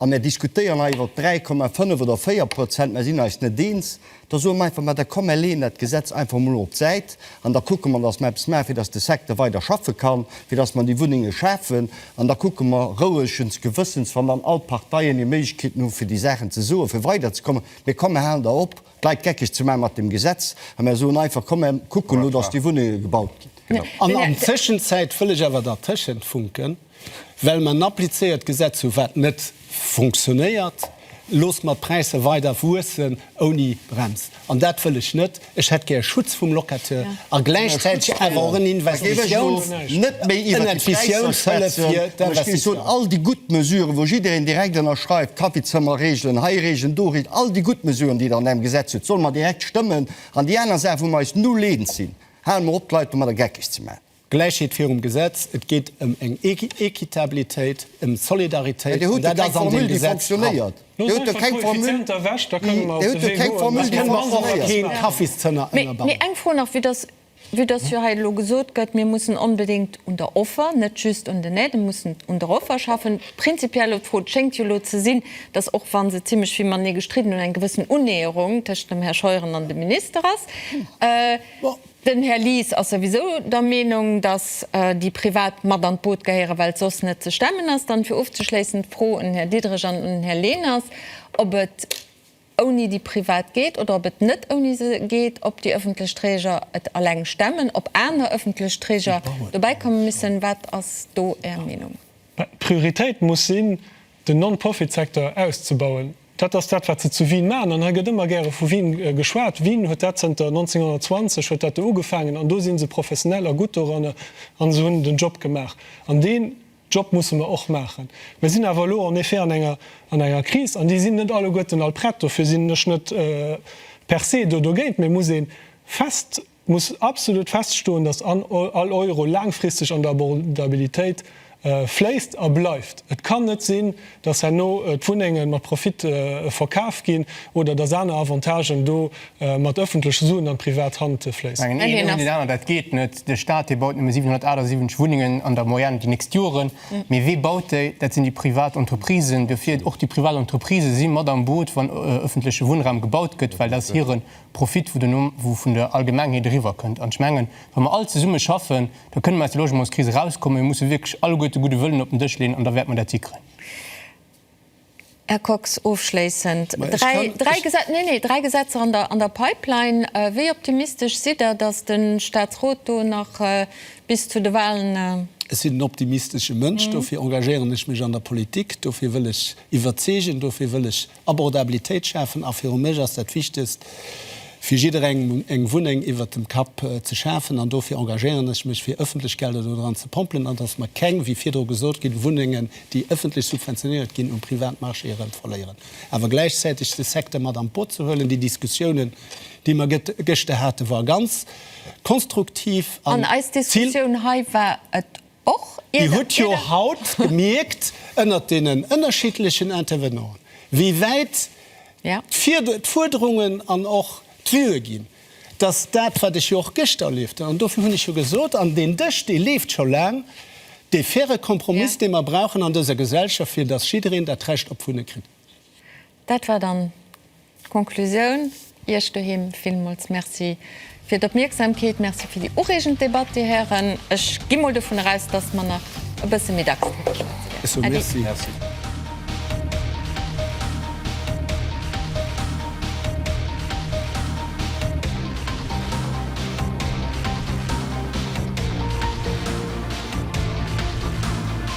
A mir diskutéieren hei iwwer 3,5 oder 4 Prozent, mir sinn eis net eens. Da soe mer einfach emol, da komm mer leeën dat Gesetz einfach emol op d'Säit an da kucke mer, datt mer eppes maachen, fir datt de Secteur weider schaffe kann, fir datt mer déi Wunnenge schafen. An da kucke mer rouegens Gewëssens, wann dann all d'Parteien hir Méiglechkeeten hu fir déi Saachen ze soen, fir weiderzekommen. Mee komm, mir halen der op, d'Leit geckeg ze maachen mat deem Gesetz a mir soen einfach, komm mir kucken elo, datt déi Wunnenge gebaut ginn. An an Tëschenzäit wëll ech awer dertëschent funken. Well mer en applizéiert Gesetz hu wat net funktionéiert, loosse mer d'Präisser weider wuessen ouni Brems. An dat wëll ech net. Ech hätt gär Schutz vum Locataire a gläichzäiteg awer och en Investitiouns, en Investiounshëllef fir d'Investisseur. All déi gutt Mesuren, wou jiddereen direkt ënnerschreift, Kaffizëmmerregelen, hei Regelen, do Regelen, all déi gutt Mesuren, déi Der an Ärem Gesetz hutt, solle mer direkt stëmmen. An déi aner Saachen, wou mer eis null eens sinn, hale mer op, d'Leit domadder geckeg ze maachen. Gläichheet virum Gesetz, et geet ëm eng Équitabilitéit, ëm Solidaritéit, an dat ass an deem Gesetz dran. Mee Dir hutt do keng Formule fonction-néiert. Eng Fro nach, vue dass jo hei elo gesot gëtt, mir mussen onbedéngt un der Offer, net just un den Aiden, mussen un der Offer schaffen. Prinzipiell elo d'Fro, et schéngt jo elo ze sinn, dass och wa se zimmlech vill matenee gestridden hunn, eng gewëssen Unnäherung tëschent dem Här Scheuren an dem Minister ass. Den Här Lies ass souwisou der Meenung, dass déi Privat mat an d'Boot gehéieren, well et soss net ze stemmen ass. Dann fir ofzeschléissen d'Fro un den Här Diderich an un den Här Lehners, ob et ouni déi Privat geet oder ob et net ouni se geet, ob déi öffentlech Träger et alleng stemmen, ob aner öffentlech Träger dobäikommen müssen. Wat ass do Är Meenung? D'Prioritéit muss sinn, den Non-Profit-Secteur auszebauen. Dat ass dat, wat se zu Wien maachen. An hei gëtt ëmmer gäre vu Wien geschwat. Wien huet dat zënter 1920 huet dat do ugefaangen an do si se professionell a gutt doranner a se hunn den Job gemaach. An deen Job musse mer och maachen. Mir sinn awer elo en effet an enger Kris an déi sinn net alleguerten all prett. Dofir sinn ech net per se do dogéint. Mee et muss ee fest Et muss absolut feststoen, dass all Euro laangfristeg an der Abordabilitéit fléisst a bleift. Et kann net sinn, dass herno d'Wunnenge mat Profit verkaf ginn oder dass aner Avantagen do mat öffentleche Suen an privat Hand fléissen. Mengen een ouni deen aneren, dat geet net. De Stat, dee baut nëmme 778 Wunnengen an der Moyenne déi nächst Joren. Mee wee baut déi? Dat sinn déi privat Entreprisen. Dofir, och déi privat Entreprisë si mat am Boot, wann öffentleche Wunnraum gebaut gëtt, well dat ass hiren Profit, wou den Numm, wou vun der Allgemengheet eriwwer kënnt. An ech mengen, wa mer all zesumme schaffen, da kënne mer aus der Logementskris erauskommen. Mir musse wierklech alleguerte de gudde Wëllen op den Dësch leeën an da wäerte mer dat hikréien. Här Kox, ofschléissend, dräi Gesetzer, nee, nee, dräi Gesetzer an der Pipeline. Wéi optimistesch sidd Der, dass de Statsrot do nach bis zu de Wahlen? Ech sinn en optimistesche Mënsch, dofir engagéieren ech mech an der Politik, dofir wëll ech iwwerzeegen, dofir wëll ech Abordabilitéit schafen, a viru mech ass dat Wichtegst, fir jidderengem eng Wunneng iwwert dem Kapp ze schafen. An dofir engagéieren ech mech, fir ëffentlech Gelder do dran ze pompelen, an datt mer keng, wéi virdru gesot ginn, Wunnengen, déi ëffentlech subventionéiert ginn, um Privatmarché erëm verléieren. Awer gläichzäiteg de Secteur mat an d'Boot ze huelen. Déi Diskussiounen, déi mer gëschter haten, war ganz konstruktiv an ziel. An eis Diskussioun hei war et Dir hutt jo haut gemierkt, ënnert deenen ënnerschiddlechen Intervenanten, wéi wäit d'Fuerderungen an och d'Vue ginn, dass dat, wat ech jo och gëschter erlieft hunn, an dofir hunn ech jo gesot, an deen Dësch, dee leeft scho laang, dee faire Kompromiss, dee mer brauchen an dëser Gesellschaft, fir dass jiddereen dat Recht op Wunne kritt. Dat war dann d'Konklusioun. Iech doheem villmools Merci fir d'Opmierksamkeet. Merci fir déi ureegend Debatt, Dir Hären. Ech gi mol dovun eraus, dass mer nach e bësse méi dacks kënne schwätzen. Äddi. Merci.